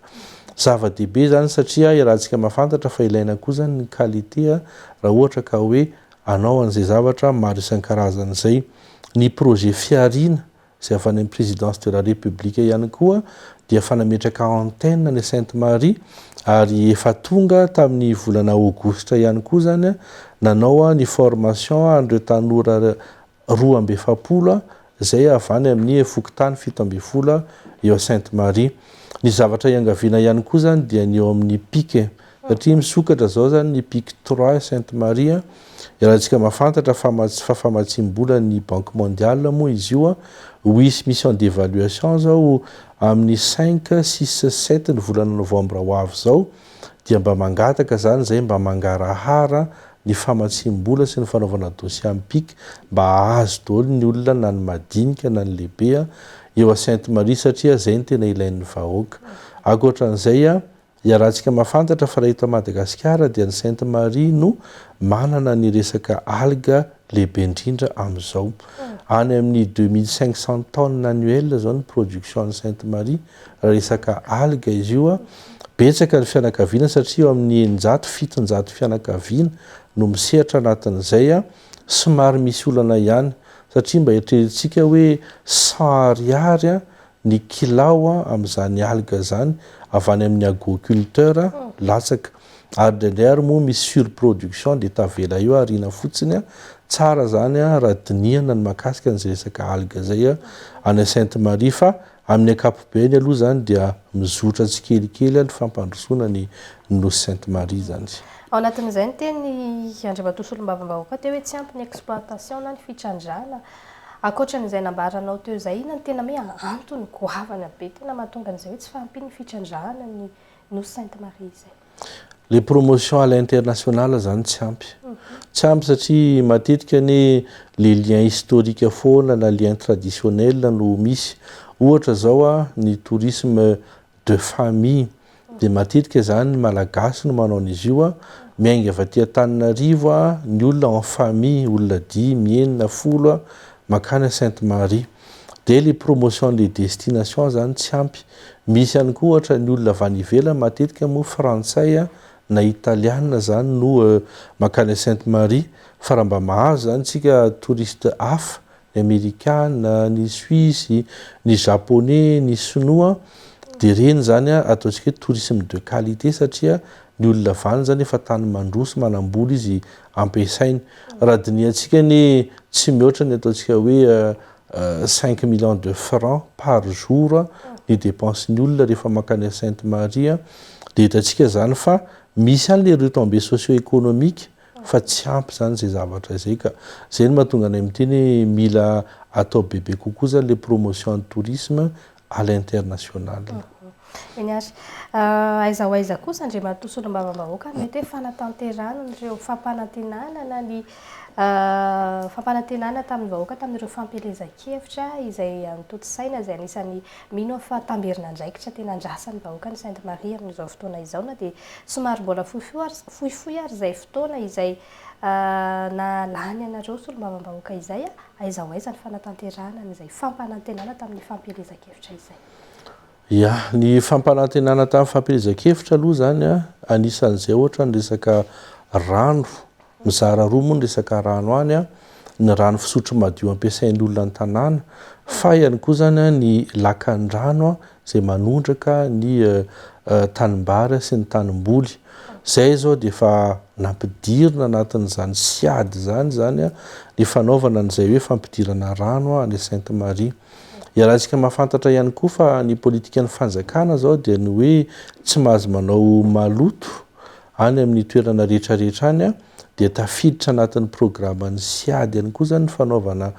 Zava-dehibe izany satria iarahantsika mahafantatra fa ilaina koa izany ny qualité raha ohatra ka hoe hanao an'izay zavatra maro isan-karazany izay. Ny projet Fihariana izay avy any amin'ny Présidence de la République ihany koa dia efa nametraka antenne any Sainte Marie ary efa tonga tamin'ny volana aogositra ihany koa izany nanao ny formation an'ireo tanora roa amby efapolo izay avy any amin'ny fokontany fito ambin'ny folo eo Sainte Marie. Ny zavatra iangaviana ihany koa izany dia ny eo amin'ny pic Satria misokatra izao izany ny Pic Trois Sainte Marie, iarahantsika mahafantatra fa mats fa famatsiam-bola ny Banque Mondiale moa izy io, ho hisy mission d'évaluation izao amin'ny cinq, six, sept ny volana novembre ho avy izao, dia mba mangataka izany izay mba mangarahara ny famatsiam-bola sy ny fanaovana dossier amin'ny Pic mba hahazo daholo ny olona na ny madinika na ny lehibe eo à Sainte Marie satria izay no tena ilain'ny vahoaka. Akoatran'izay, Iarahantsika mahafantatra fa raha eto Madagasikara dia ny Sainte Marie no manana ny resaka algue lehibe indrindra amin'izao. Any amin'ny deux mille cinq cents tonnes annuelles izao ny production an'ny Sainte Marie raha resaka algue izy io. Betsaka ny fianakaviana satria eo amin'ny eninjato, fitonjato fianakaviana no misehatra anatin'izay. Somary misy olana ihany satria mba eritreretintsika hoe cent ariary ny kilao amin'izany algue izany avy any amin'ny aguoculteur latsaka ary indraindray ary moa misy surproduction dia tavela eo ariana fotsiny tsara izany raha dinihana ny mahakasika an'izay resaka algue izay any Sainte Marie fa amin'ny ankapobeny aloha izany dia mizotra tsikelikely ny fampandrosoana ny nosy Sainte Marie izany. Ao anatin'izay ny teny Andriamatoa Solombavambahoaka teo hoe tsy ampy ny exploitation na ny fitrandrahana Ankoatra an'izay nambaranao teo izay, inona no tena hoe antony goavana be tena mahatonga an'izay hoe tsy fahampian'ny fitrandrahana ny Nosy Sainte Marie izay? Ilay promotion à l'international izany tsy ampy. Tsy ampy satria matetika anie ilay lien historique foana na lien traditionnel no misy. Ohatra izao, ny tourisme de famille de matetika zany ny malagasy no manao an'izy io a, miainga avy aty Antananarivo a ny olona en famille olona dimy, enina, folo a makany Sainte Marie de le promotion de destination zany tsy ampy, misy ihany koa ohatra ny olona avy any ivelany matetika moa frantsay a na italiana zany no makany Sainte Marie fa raha mba mahazo zany tsika touriste hafa ny amerikana, ny suisse, ny japonais, ny sinoa dia ireny izany ataontsika hoe tourisme de qualité satria ny olona avy any izany efa tany mandroso manambola izy ampiasainy. Raha dinihantsika anie tsy mihoatra ny ataontsika hoe cinq millions de francs par jour ny dépense ny olona rehefa mankany à Sainte Marie dia hitantsika izany fa misy any ilay retombées socio-économiques fa tsy ampy izany izay zavatra izay ka. Izay no mahatonga anay miteny hoe mila atao bebe kokoa izany ilay promotion ny tourisme à l'international. Eny ary. Aiza ho aiza kosa Andriamatoa Solombavambahoaka no mety hoe fanatanterahana an'ireo fampanantenana na ny fampanantenana tamin'ny vahoaka tamin'ireo fampielezan-kevitra izay notontosaina izay anisan'ny Mino aho fa tamberin'andraikitra tena andrasan'ny vahoaka ny Sainte Marie amin'izao fotoana izao na dia somary mbola fohifohy ary izay fotoana izay na lany anareo solombavambahoaka izay aiza ho aiza ny fanatanterahana an'izay fampanantenana tamin'ny fampielezan-kevitra izay. Ya, ny fampanantenana tamin'ny fampielezan-kevitra aloha izany anisan'izay ohatra ny resaka rano Mizara roa moa ny resaka rano any an, ny rano fisotro madio ampiasain'ny olona ny tanàna, fa ihany koa izany an ny lakandrano an izay manondraka ny tanimbary sy ny tanimboly. Izay izao dia efa nampidirina anatin'izany siad izany izany an ny fanaovana an'izay hoe fampidirana rano an any Sainte Marie. Iarahantsika mahafantatra ihany koa fa ny politikan'ny fanjakana izao dia ny hoe tsy mahazo manao maloto Any amin'ny toerana rehetrarehetra any dia tafiditra anatin'ny programan'ny Siad ihany koa izany ny fanaovana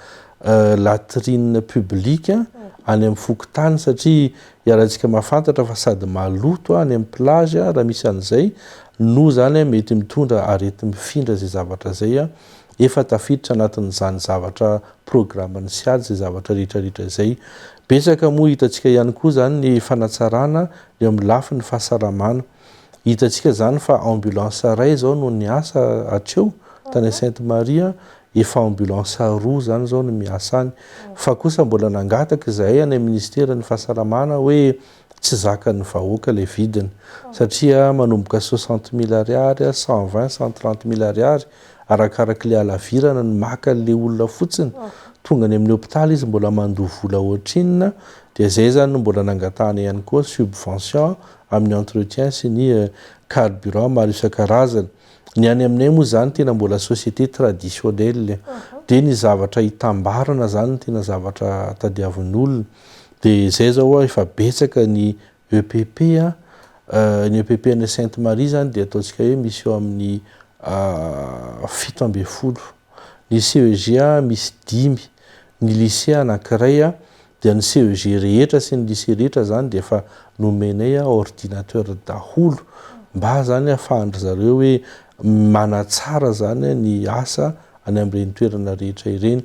latrines publiques any amin'ny fokontany satria iarahantsika mahafantatra fa sady maloto any amin'ny plage raha misy an'izay no izany mety mitondra areti-mifindra izay zavatra izay. Efa tafiditra anatin'izany zavatra programan'ny Siad izay zavatra rehetrarehetra izay. Betsaka moa hitantsika ihany koa izany ny fanatsarana eo amin'ny lafiny fahasalamana. Hitantsika izany fa ambulance iray izao no niasa hatreo tany Sainte Marie, efa ambulance roa izany izao no miasa any. Fa kosa mbola nangataka izahay any amin'ny Ministeran'ny Fahasalamana hoe tsy zakan'ny vahoaka ilay vidiny satria manomboka soixante mille ariary, cent vingt, cent trente mille ariary arakarak'ilay halavirana no maka an'ilay olona fotsiny. Tonga any amin'ny hopitaly izy mbola mandoa vola ohatrinona dia izay izany no mbola nangatahana ihany koa subvention. amin'ny entretien sy ny carburant maro isan-karazany. Ny any aminay moa izany tena mbola société traditionnelle dia ny zavatra itambarana izany no tena zavatra tadiavin'olona. Dia izay izao ho'a efa betsaka ny EPP an, ny EPP any Sainte Marie izany dia ataontsika hoe misy eo amin'ny fito ambin'ny folo, ny CEGA misy dimy, ny lycée anankiray, Dia ny CEG rehetra sy ny lycée rehetra zany dia efa nomenay ordinateur daholo mba zany ahafahan-dry zareo hoe manatsara zany ny asa any amin'ireny toerana rehetra ireny.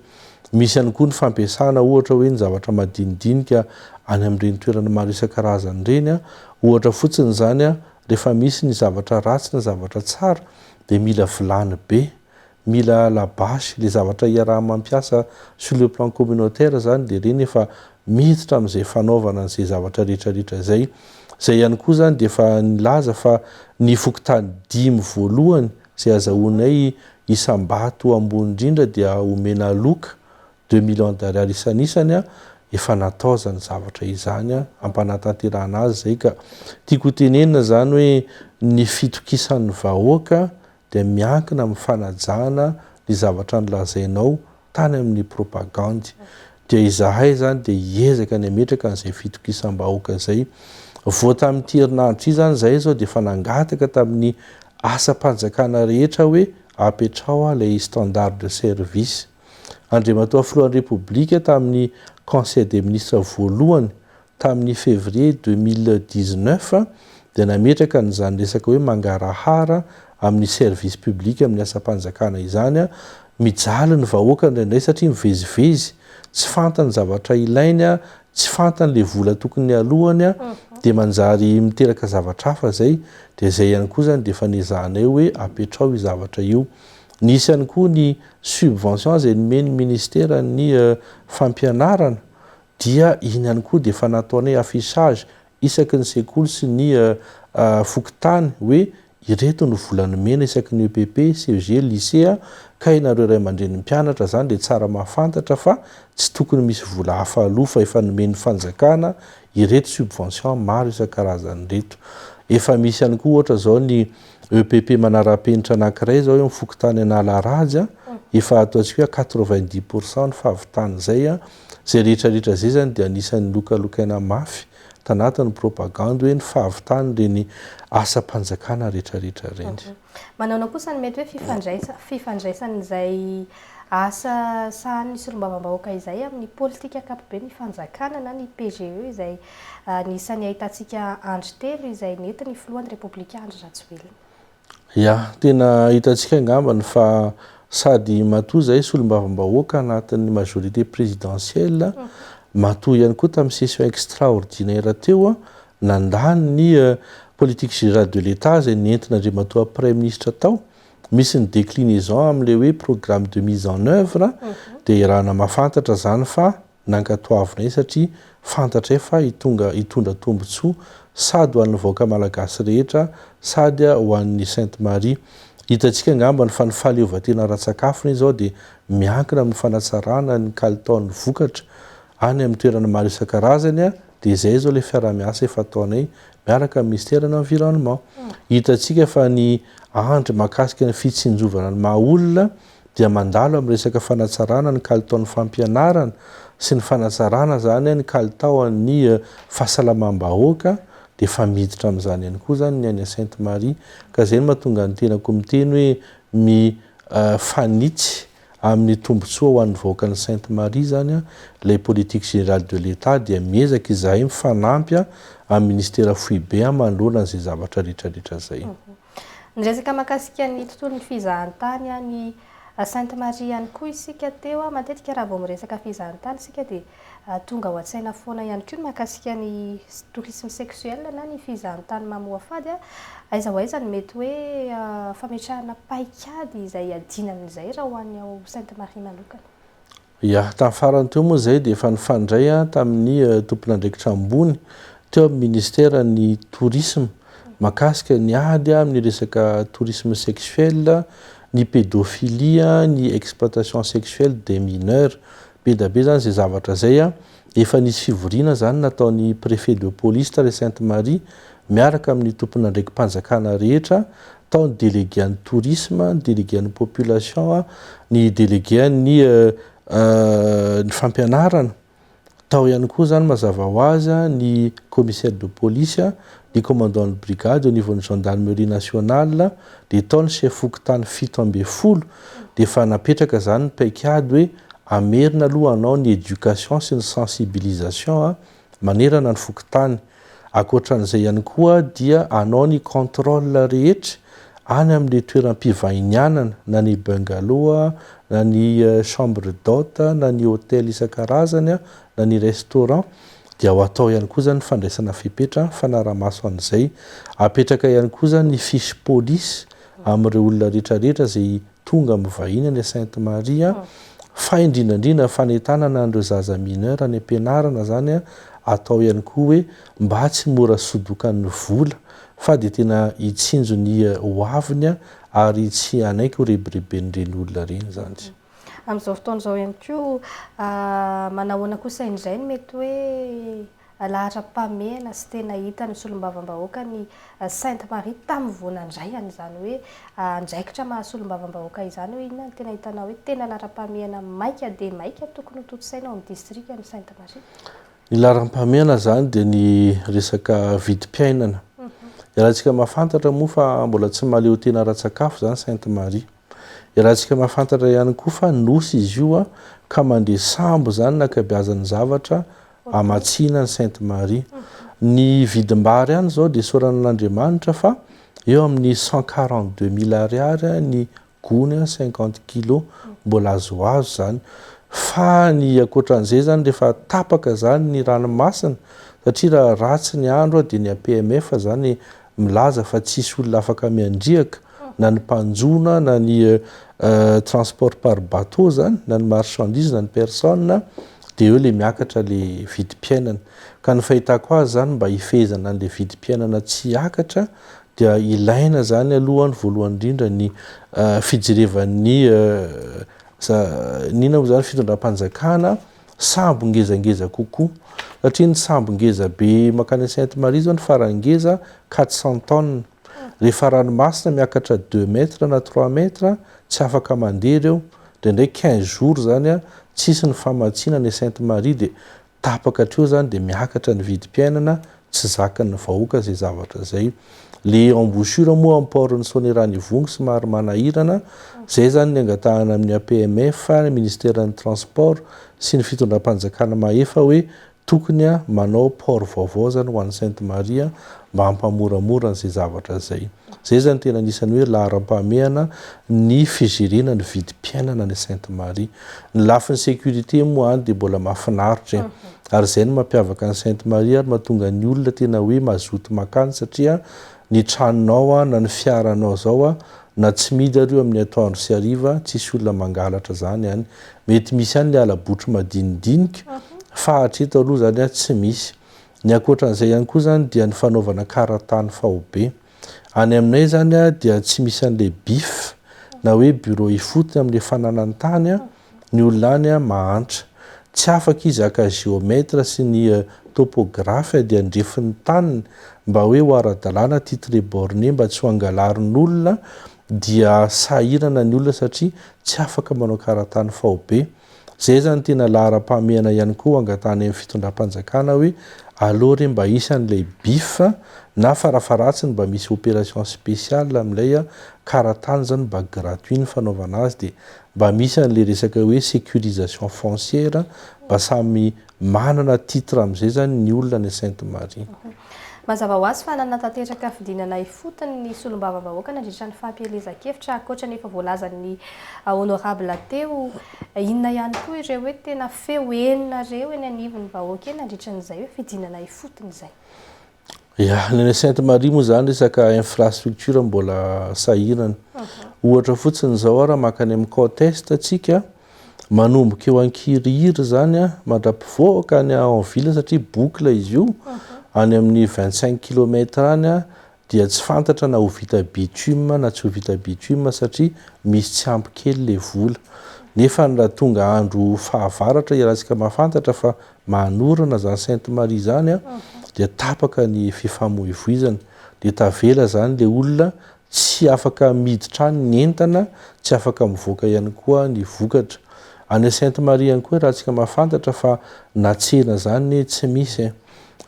Misy ihany koa ny fampiasana ohatra hoe ny zavatra madinidinika any amin'ireny toerana maro isan-karazany ireny. Ohatra fotsiny izany rehefa misy ny zavatra ratsy na zavatra tsara dia mila vilany be Mila la base, le zavatra iaraha mampiasa sur le plan communautaire zany de reny efa miditra amzay fanaovana anzay zavatra rehetra rehetra zay. Zay ihany koa zany de efa nilaza fa ny fokontany dimy voalohany zay azahoanay isam-bato ambony indrindra dia omena aloka, deux millions d'ariary isanisany an, efa natao zany zavatra izany an, ampanatanterahana azy zay ka. Tiako ho tenenina zany hoe ny fitokisan'ny vahoaka dia miankina amin'ny fanajana ny zavatra nolazainao tany amin'ny propagandy. Dia izahay izany dia hiezaka ny hametraka an'izay fitokisam-bahoaka izay. Vao tamin'ity herinandro ity izany izahay izao dia efa nangataka tamin'ny asam-panjakana rehetra hoe apetraho ilay standard de service. Andriamatoa Filohan'ny Repoblika tamin'ny Conseil des Ministres voalohany Tamin'ny février deux mille dix-neuf dia nametraka an'izany resaka hoe mangarahara amin'ny service public amin'ny asam-panjakana izany. Mijaly ny vahoaka indraindray satria mivezivezy, tsy fantany ny zavatra ilainy, tsy fantany ilay vola tokony aloany dia manjary miteraka zavatra hafa izay. Dia izay ihany koa izany dia efa nezahanay hoe apetraho io zavatra io. Nisy ihany koa ny subvention izay nomen'ny ministeran'ny fampianarana Dia iny ihany koa dia efa nataonay affichage isaky ny sekoly sy ny fokontany hoe ireto no vola nomena isaky ny epp, ceg, lycée ka ianareo ray aman-drenin'ny mpianatra izany dia tsara mahafantatra fa tsy tokony misy vola hafa aloa fa efa nomen'ny fanjakana ireto subvention maro isan-karazany ireto. Efa misy ihany koa ohatra izao ny epp manara-penitra anankiray izao eo amin'ny fokontany Analarajy efa ataontsika hoe à quatre-vingt-dix pour cent ny fahavitan'izay Izay rehetra rehetra izay izany dia anisan'ny lokalokaina mafy tanatin'ny propagandy hoe ny fahavitan'ireny asam-panjakana rehetra rehetra ireny. Manaona kosa ny mety hoe fifandraisan'izay asa sahanin'ny solombavambahoaka izay amin'ny politika ankapoben'ny fanjakana na ny PGE izay anisan'ny ahitantsika andry telo izay nentin'ny filohan'ny Repoblika Andry Rajoelina. Ya, tena hitantsika angambany fa sady matoa zahay solombavambahoaka anatin'ny majorité présidentielle, matoa ihany koa tamin'ny session extraordinaire teo, nandà ny eh, politique générale de l'Etat izay nentin'Andriamatoa Praiminisitra tao, misy ny déclinaison amin'ilay hoe programme de mise en œuvre, dia iarahana mahafantatra izany fa nankatoavinay satria fantatray fa hitonga hitondra tombotsoa sady ho an'ny vahoaka malagasy rehetra sady ho an'ny Sainte Marie. Hitantsika angambany fa ny fahaleovantena ara-tsakafony izao dia miankina amin'ny fanatsarana ny kalitaon'ny vokatra any amin'ny toerana maro isan-karazany dia izay izao ilay fiaraha-miasa efa ataonay miaraka amin'ny Minisiteran'ny Environnement. Hitantsika fa ny andry mahakasika ny fitsinjovana ny maha olona dia mandalo amin'ny resaka fanatsarana ny kalitaon'ny fampianarana sy ny fanatsarana izany ny kalitaon'ny fahasalamam-bahoaka dia efa miditra amin'izany ihany koa izany ny any Sainte Marie ka izay no mahatonga ny tenako miteny hoe mi fanitsy amin'ny tombotsoa ho an'ny vahoakan'i Sainte Marie izany ilay politique générale de l'Etat dia miezaka izahay mifanampy amin'ny Ministera Foibe manoloana izay zavatra rehetra rehetra izay. Niresaka mahakasika ny tontolon'ny fizahantany any Sainte Marie ihany koa isika teo. Matetika raha vao miresaka fizahantany isika dia tonga ao an-tsaina foana ihany koa ny mahakasika ny tourisme sexuel na ny fizahantany mamoafady. Aiza ho aiza no mety hoe fametrahana paikady izay iadiana amin'izay raha ho any ao Sainte Marie manokana? Ia, tamin'ny farany teo moa izay dia efa nifandray aho tamin'ny tompon'andraikitra ambony teo amin'ny ministeran'ny tourisme mahakasika ny ady amin'ny resaka tourisme sexuel, ny pédophilie, ny exploitation sexuelle des mineurs. Be dia be izany izay zavatra izay. Efa nisy fivoriana izany nataon'ny préfet de police tany Sainte Marie miaraka amin'ny tompon'andraiki-panjakana rehetra tao ny délégué an'ny tourisme, ny délégué an'ny population, ny délégué an'ny ny fampianarana, tao ihany koa izany mazava ho azy ny commissaire de police, ny commandant de brigade au niveau-n'ny gendarmerie nationale, dia tao ny chef fokontany fito ambin'ny folo, dia efa napetraka izany ny paikady hoe hamerina aloha hanao ny éducation sy ny sensibilisation manerana ny fokontany. Ankoatran'izay ihany koa dia hanao ny contrôle rehetra any amin'ilay toeram-pivahinianana na ny bungalow na ny chambre d'hôte na ny hôtel isan-karazany na ny restaurant dia ho atao ihany koa izany ny fandraisana fepetra fanara-maso an'izay. Hapetraka ihany koa izany ny fiche police amin'ireo olona rehetra rehetra izay Tonga mivahiny any Sainte Marie fa indrindrandrindra ny fanentanana an'ireo zaza mineur any am-pianarana izany atao ihany koa hoe mba tsy mora sodokan'ny vola fa dia tena hitsinjo ny hoaviny ary tsy hanaiky ho rebireben'ireny olona ireny izany. Amin'izao fotoana izao ihany koa, manahoana kosa indray no mety hoe Alahatra mpamehana sy tena hitan'ny solombavambahoaka ny Sainte Marie tamin'ny voana indray an'izany hoe andraikitra maha solombavambahoaka izany hoe inona ny tena hitanao hoe tena laharam-pamehana maika dia maika tokony hotontosaina ao amin'ny distrika ny Sainte Marie? Ny laharam-pamehana izany dia ny resaka vidim-piainana. Ialahintsika mahafantatra moa fa mbola tsy mahaleotena ara-tsakafo izany Sainte Marie. Ialahintsika mahafantatra ihany koa fa nosy izy io ka mandre sambo izany ny ankabeazan'ny zavatra amatsiana an'i Sainte Marie. Ny vidim-bary any izao dia isaorana an'Andriamanitra fa eo amin'ny cent quarante deux mille ariary ny gony cinquante kilos mbola azoazo izany. Fa ny ankoatran'izay izany rehefa tapaka izany ny ranomasina satria raha ratsy ny andro dia ny APMF izany milaza fa tsisy olona afaka miandriaka na ny mpanjona na ny transport par bateau zany na ny marchandise na ny personne de eo le miakatra le vidim-piainana ka ny fahitako azy zany mba hifehezana an'le vidim-piainana tsy hiakatra dia ilaina zany aloha ny voalohany indrindra ny fijerevan'ny inona moa zany fitondram-panjakana sambo ngezangeza kokoa satria ny sambo ngeza be makany à Sainte Marie zao ny farany ngeza quatre cent tonnes rehefa ranomasina miakatra deux mètres na trois mètres tsy afaka mandeha ireo ndraindray quinze jours zany a tsisy ny famatsiana any à Sainte Marie dia tapaka hatreo zany dia miakatra ny vidim-piainana Tsy zakan'ny vahoaka izay zavatra izay. Le embouchure moa am port ny Soanierana Ivongo somary manahirana, zay zany ny angatahana amin'ny APMF, Ministeran'ny transport, sy ny fitondram-panjakana mahefa hoe tokony manao port vaovao zany ho an'i Sainte Marie mba hampamoramora an'izay zavatra izay. Izay zany tena anisan'ny hoe laharam-pahamehana ny fijerena ny vidim-piainana any Sainte Marie. Ny lafiny sécurité moa any dia mbola mahafinaritra e. Ary izay no mampiavaka an'i Sainte Marie ary mahatonga ny olona tena hoe mazoto makany satria ny tranonao na ny fiaranao izao na tsy midy ary io amin'ny atoandro sy hariva tsisy olona mangalatra izany any. Mety misy any ilay hala-botry madinidinika fa hatreto aloha izany tsy misy. Ny ankoatran'izay ihany koa izany dia ny fanaovana karatany faobe. Any aminay izany dia tsy misy an'ilay bif na hoe bureau ifotony amin'ilay fananany tany ny olona any mahantra. Tsy afaka izy haka géomètre sy ny topographe ady andrefin'ny taniny mba hoe ho ara-dalàna titre borné mba tsy ho angalarin'olona dia sahirana ny olona satria tsy afaka manao karatany faobe. Zay zany tena laharam-pahamehana ihany koa angatahana eny fitondram-panjakana hoe aleo re mba hisy an'ilay bif na farafaharatsiny mba misy opération spéciale amin'ilay a karatany zany mba gratuit ny fanaovana azy dia mba misy an'ilay resaka hoe sécurisation foncière mba samy Manana titre amin'izay izany ny olona any Sainte Marie. Mazava ho azy fa nanatanteraka fidinana ifotony ny solombavambahoaka nandritra ny fampielezan-kevitra, ankoatra ny efa voalazan'ny Honorable teo. Inona ihany koa ireo hoe tena feo henonareo eny anivon'ny vahoaka eny nandritra an'izay hoe fidinana ifotony izay? Ya, ny any Sainte Marie moa izany resaka infrastructure mbola sahirana. Ohatra fotsiny izao ara maka any amin'ny côte est antsika, manomboka eo an-kirihiry izany a, mandra-pivoaka any en ville satria boucle izy io, any amin'ny 25 kilomètre any a, dia tsy fantatra na ho vita bitume na tsy ho vita bitume satria misy tsy ampy kely ilay vola. Nefa raha tonga andro fahavaratra iarahantsika mahafantatra fa mahanorana zany Sainte Marie zany a dia tapaka ny fifamoivoizana dia tavela zany le olona tsy afaka miditra any ny entana tsy afaka mivoaka ihany koa ny vokatra any Sainte Marie ihany koa raha tsika mahafantatra fa na tsena zany ne tsy misy e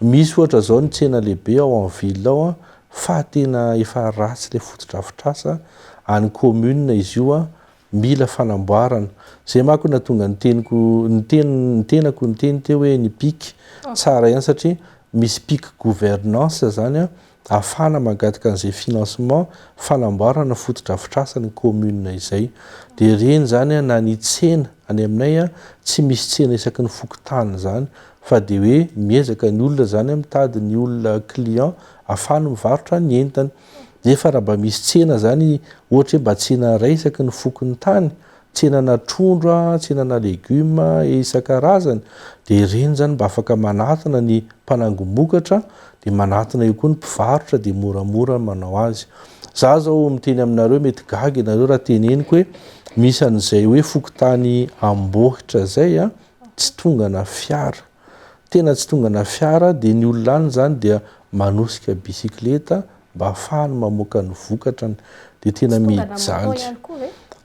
misy ohatra zao ny tsena lehibe ao am ville ao a fa tena efa ratsy le fotodrafitrasa any commune izy io a Mila fanamboarana. Zay manko nahatonga ny teniko ny ten ny tenako niteny teo hoe ny pic tsara ihany satria misy pic gouvernance zany an ahafahana mangataka an'izay financement fanamboarana fotodrafitrasa ny commune izay. Dia ireny zany an na ny tsena any aminay an tsy misy tsena isaky ny fokontany zany fa dia hoe miezaka ny olona zany an mitady ny olona client ahafahany mivarotra ny entany. Nefa raha mba misy tsena zany ohatra hoe mba tsena ray isaky ny fokon'ny tany, tsenana trondro a, tsenana legume et isan-karazany dia ireny zany mba afaka manatona ny mpanangom-bokatra dia manatona eo koa ny mpivarotra dia moramora ny manao azy. Za zao miteny aminareo mety gaga ianareo raha teneniko hoe misy an'izay hoe fokontany ambohitra zay a tsy tongana fiara. Tena tsy tongana fiara dia ny olona any izany dia manosika bisikileta mba hafahany mamoaka ny vokatrany dia tena mijaly.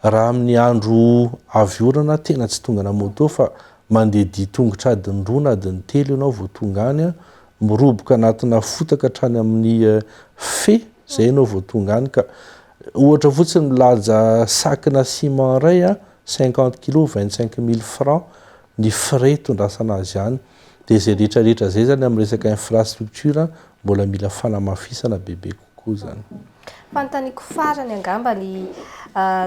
Raha amin'ny andro avy orana tena tsy tongana moto fa mandeha dia tongotra adiny roa na adiny telo ianao vao tonga any an, miroboka anatina fotaka hatrany amin'ny eh, fe izay ianao vao tonga any ka. Ohatra fotsiny milaja sac-na ciment iray an, cinquante kilos vingt cinq mille francs ny frais hitondrasana azy any dia izay rehetra rehetra izay zany amin'ny resaka infrastructure mbola mila fanamafisana bebe kokoa zany. Fanontaniako farany angamba ny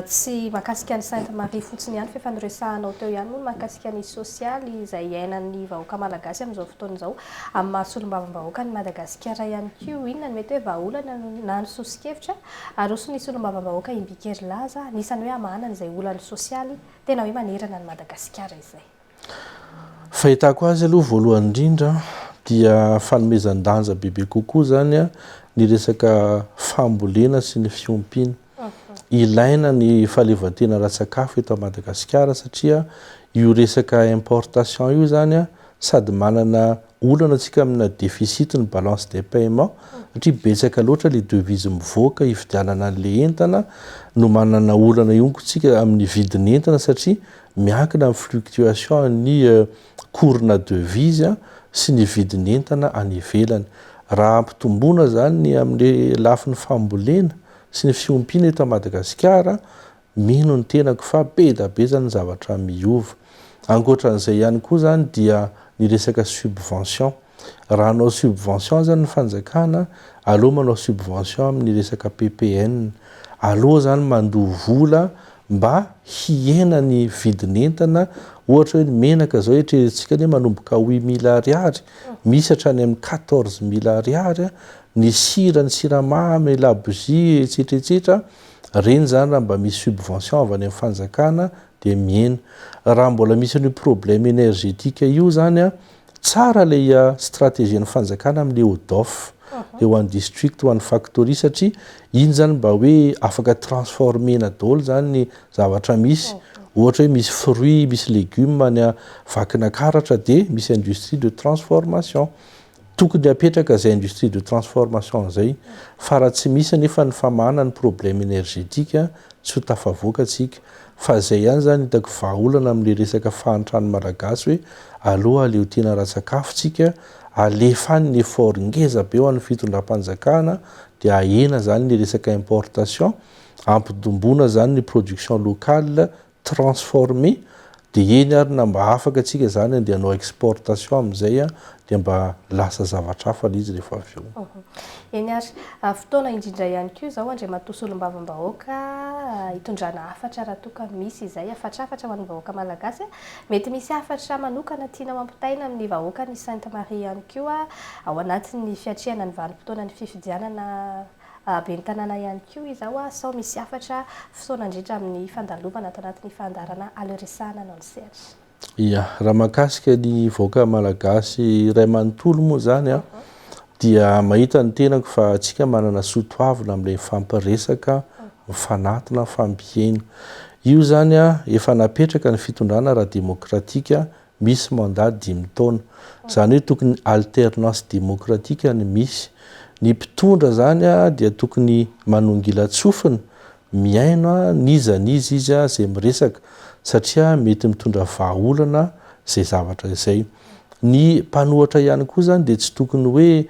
tsy mahakasika an'i Sainte Marie fotsiny ihany fa efa noresahanao teo ihany moa ny mahakasika ny sosialy izay iainan'ny vahoaka malagasy amin'izao fotoana izao amin'ny maha solombavambahoaka an'i Madagasikara ihany koa inona no mety hoe vahaolana na ny soso-kevitra aroson'ny solombavambahoaka im-bikerilaza anisan'ny hoe hamahana an'izay olan'ny sosialy Tena hoe manerana an'i Madagasikara izay. Fahitako azy aloha voalohany indrindra dia fanomezan-danja bebe kokoa izany ny resaka fambolena sy ny fiompiana. Ilaina ny fahaleovantena ara-tsakafo eto Madagasikara satria io resaka importation io izany sady manana olana antsika amina déficit ny balance des paiement satria betsaka loatra le devise mivoaka hividianana an'le entana no manana olana ihonko tsika amin'ny vidiny entana satria miankina amin'ny fluctuation an'ny euh, cours-na devise a sy ny vidiny entana any ivelany. Raha ampitomboana zany ny amle lafiny fambolena sy ny fiompiana eto Madagasikara Mino ny tenako fa be da be zany ny zavatra miova. Ankoatran'izay ihany koa zany dia ny resaka subvention. Raha hanao subvention azany ny fanjakana, aleo manao subvention amin'ny resaka PPN. Aleo zany mandoa vola mba hihena ny vidin'entana, ohatra hoe ny menaka zao eritreretintsika anie manomboka huit mille ariary, misy hatrany amin'ny quatorze mille ariary, ny sira, ny siramamy, labozia, etsetra etsetra. Reny izany raha mba misy subvention avy any amin'ny fanjakana dia mihena. Raha mbola misy an'io problème énergétique io izany an, tsara ilay stratégie-n'ny fanjakana amin'ny EODOF, eo an'ny district ho an'ny factory satria iny izany mba hoe afaka transformer-na daholo izany ny zavatra misy. Ohatra hoe misy fruits, misy légumes any Vakinankaratra dia misy industrie de transformation. Tokony hapetraka zay industrie de transformation zay fa raha tsy misy anefa ny famahana ny problème énergétique tsy ho tafavoaka tsika fa zay ihany zany hitako vahaolana amle resaka fahantran'ny malagasy hoe aloha aleo tena ara-tsakafo tsika alefa any ny effort ngeza be ho an'ny fitondram-panjakana de ahena zany le resaka importation ampidombona zany ny production locale transformer dia eny ary na mba afaka antsika izany dia hanao exportation amin'izay dia mba lasa zavatra hafa ilay izy rehefa avy eo. Eny ary. Fotoana indrindra ihany koa izao Andriamatoa Solombavambahoaka hitondrana hafatra raha toa ka misy izay hafatrafatra ho an'ny vahoaka malagasy. Mety misy hafatra manokana tianao hampitaina amin'ny vahoakan'i Sainte Marie ihany koa ao anatin'ny fiatrehana ny vanim-potoanan'ny fifidianana Ben'ny tanàna ihany koa izao sao misy hafatra fisaona handritra amin'ny fandalovana ato anatin'ny fandaharana Aleo Resahana anao ny sehatra. Ia. Raha mahakasika ny vahoaka malagasy iray manontolo moa izany aho dia mahita ny tenako fa antsika manana soa toavina amin'ilay mifampiresaka, mifanatona, mifampihaino. Io izany efa napetraka ny fitondrana ara-demokratika misy mandat dimy taona. Izany hoe tokony alternance démocratique no misy. Ny mpitondra izany dia tokony manongilan-tsofina, mihaino n'iza n'iza izy izay miresaka satria mety mitondra vahaolana izay zavatra izay. Ny mpanohatra ihany koa izany dia tsy tokony hoe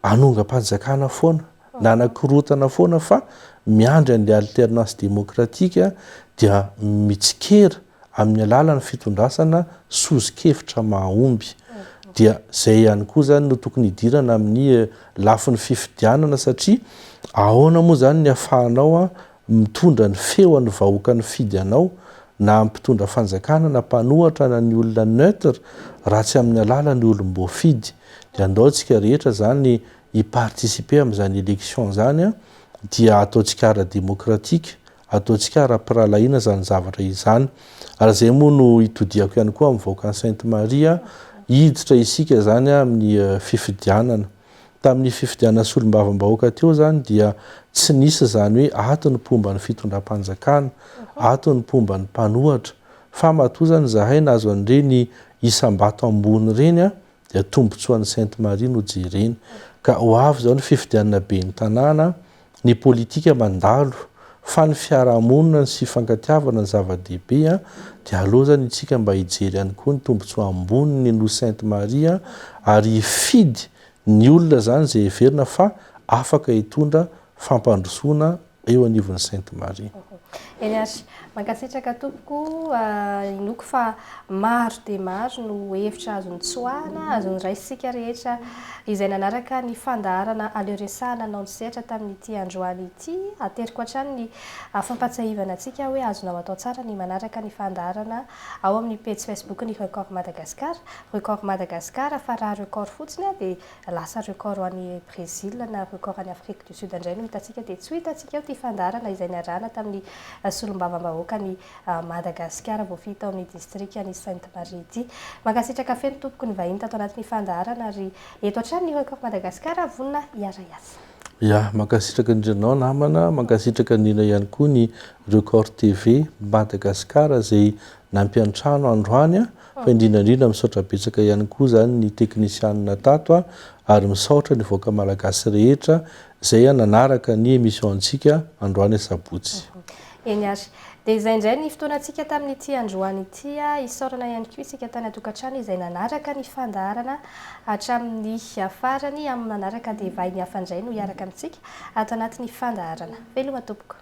hanongam-panjakana foana na hanakorontana foana fa miandry an'ilay alternance démocratique dia mitsikera amin'ny alalan'ny fitondrasana sozin-kevitra mahomby. Dia izay ihany koa izany no tokony hidirana amin'ny lafiny fifidianana satria ahoana moa izany ny afahanao mitondra ny feo an'ny vahoaka nifidy anao na mpitondra fanjakana na mpanohatra na ny olona neutre raha tsy amin'ny alalan'ny olom-boafidy. Dia andao isika rehetra izany hi-participer amin'izany élection izany dia ataontsika ara-démocratique Ataontsika ara-pirahalahiana izany zavatra izany. Ary izay moa no itodihako ihany koa amin'ny vahoakan'i Sainte Marie, hiditra isika izany amin'ny fifidianana. Tamin'ny fifidianana solombavambahoaka teo izany dia tsy nisy izany hoe ato ny mpomba ny fitondram-panjakana, ato ny mpomba ny mpanohatra. Fa matoa izany izahay nahazo an'ireny isam-bato ambony ireny dia tombontsoan'i Sainte Marie no jerena. Ka ho avy izao ny fifidianana ben'ny tanàna ny politika mandalo fa ny fiarahamonina ny sifankatiavana ny zava-dehibe an, dia aleo zany itsika mba hijery ihany koa ny tombotsoa ambony ny nosy sainte marie an, ary hifidy ny olona zany zay heverina fa afaka hitondra fampandrosoana eo anivon'ny sainte marie. Eny ary Mankasitraka tompoko a, inoako fa maro dia maro no hevitra azo notsoahana, azo noraisintsika rehetra izay nanaraka ny fandaharana Aleo Resaha nanao ny sehatra tamin'ity androany ity. Ateriko hatrany ny fampatsiahivana antsika hoe azonao atao tsara ny manaraka ny fandaharana ao amin'ny pejy Facebook-n'ny Record Madagascar, Record Madagascar, fa raha Record fotsiny dia lasa record any Brésil na record any Afrique du Sud indray no hitantsika dia tsy ho hitantsika eo ity fandaharana izay niarahana tamin'ny solombavambahoakan'i Madagasikara voafidy tao amin'ny distrikan'i Sainte Marie ity. Mankasitraka feno tompoko nivahiny tato anatin'ny fandaharana ary eto hatrany ny Record Madagascar vonona hiara-hiasa. Ya, mankasitraka indrindra anao namana, mankasitraka indrindra ihany koa ny Record TV Madagascar izay nampiantrano androany an! Fa indrindra indrindra misaotra betsaka ihany koa zany ny teknisianina tato a, ary misaotra ny vahoaka malagasy rehetra zay a nanaraka ny emission antsika androany asabotsy. Eny ary. Dia izay indray ny fotoanantsika tamin'ity androany ity a, isaorana ihany koa isika tany an-tokantrano izay nanaraka ny fandaharana hatramin'ny farany, amin'ny manaraka dia vahiny hafa indray no hiaraka amintsika ato anatin'ny fandaharana. Veloma tompoko.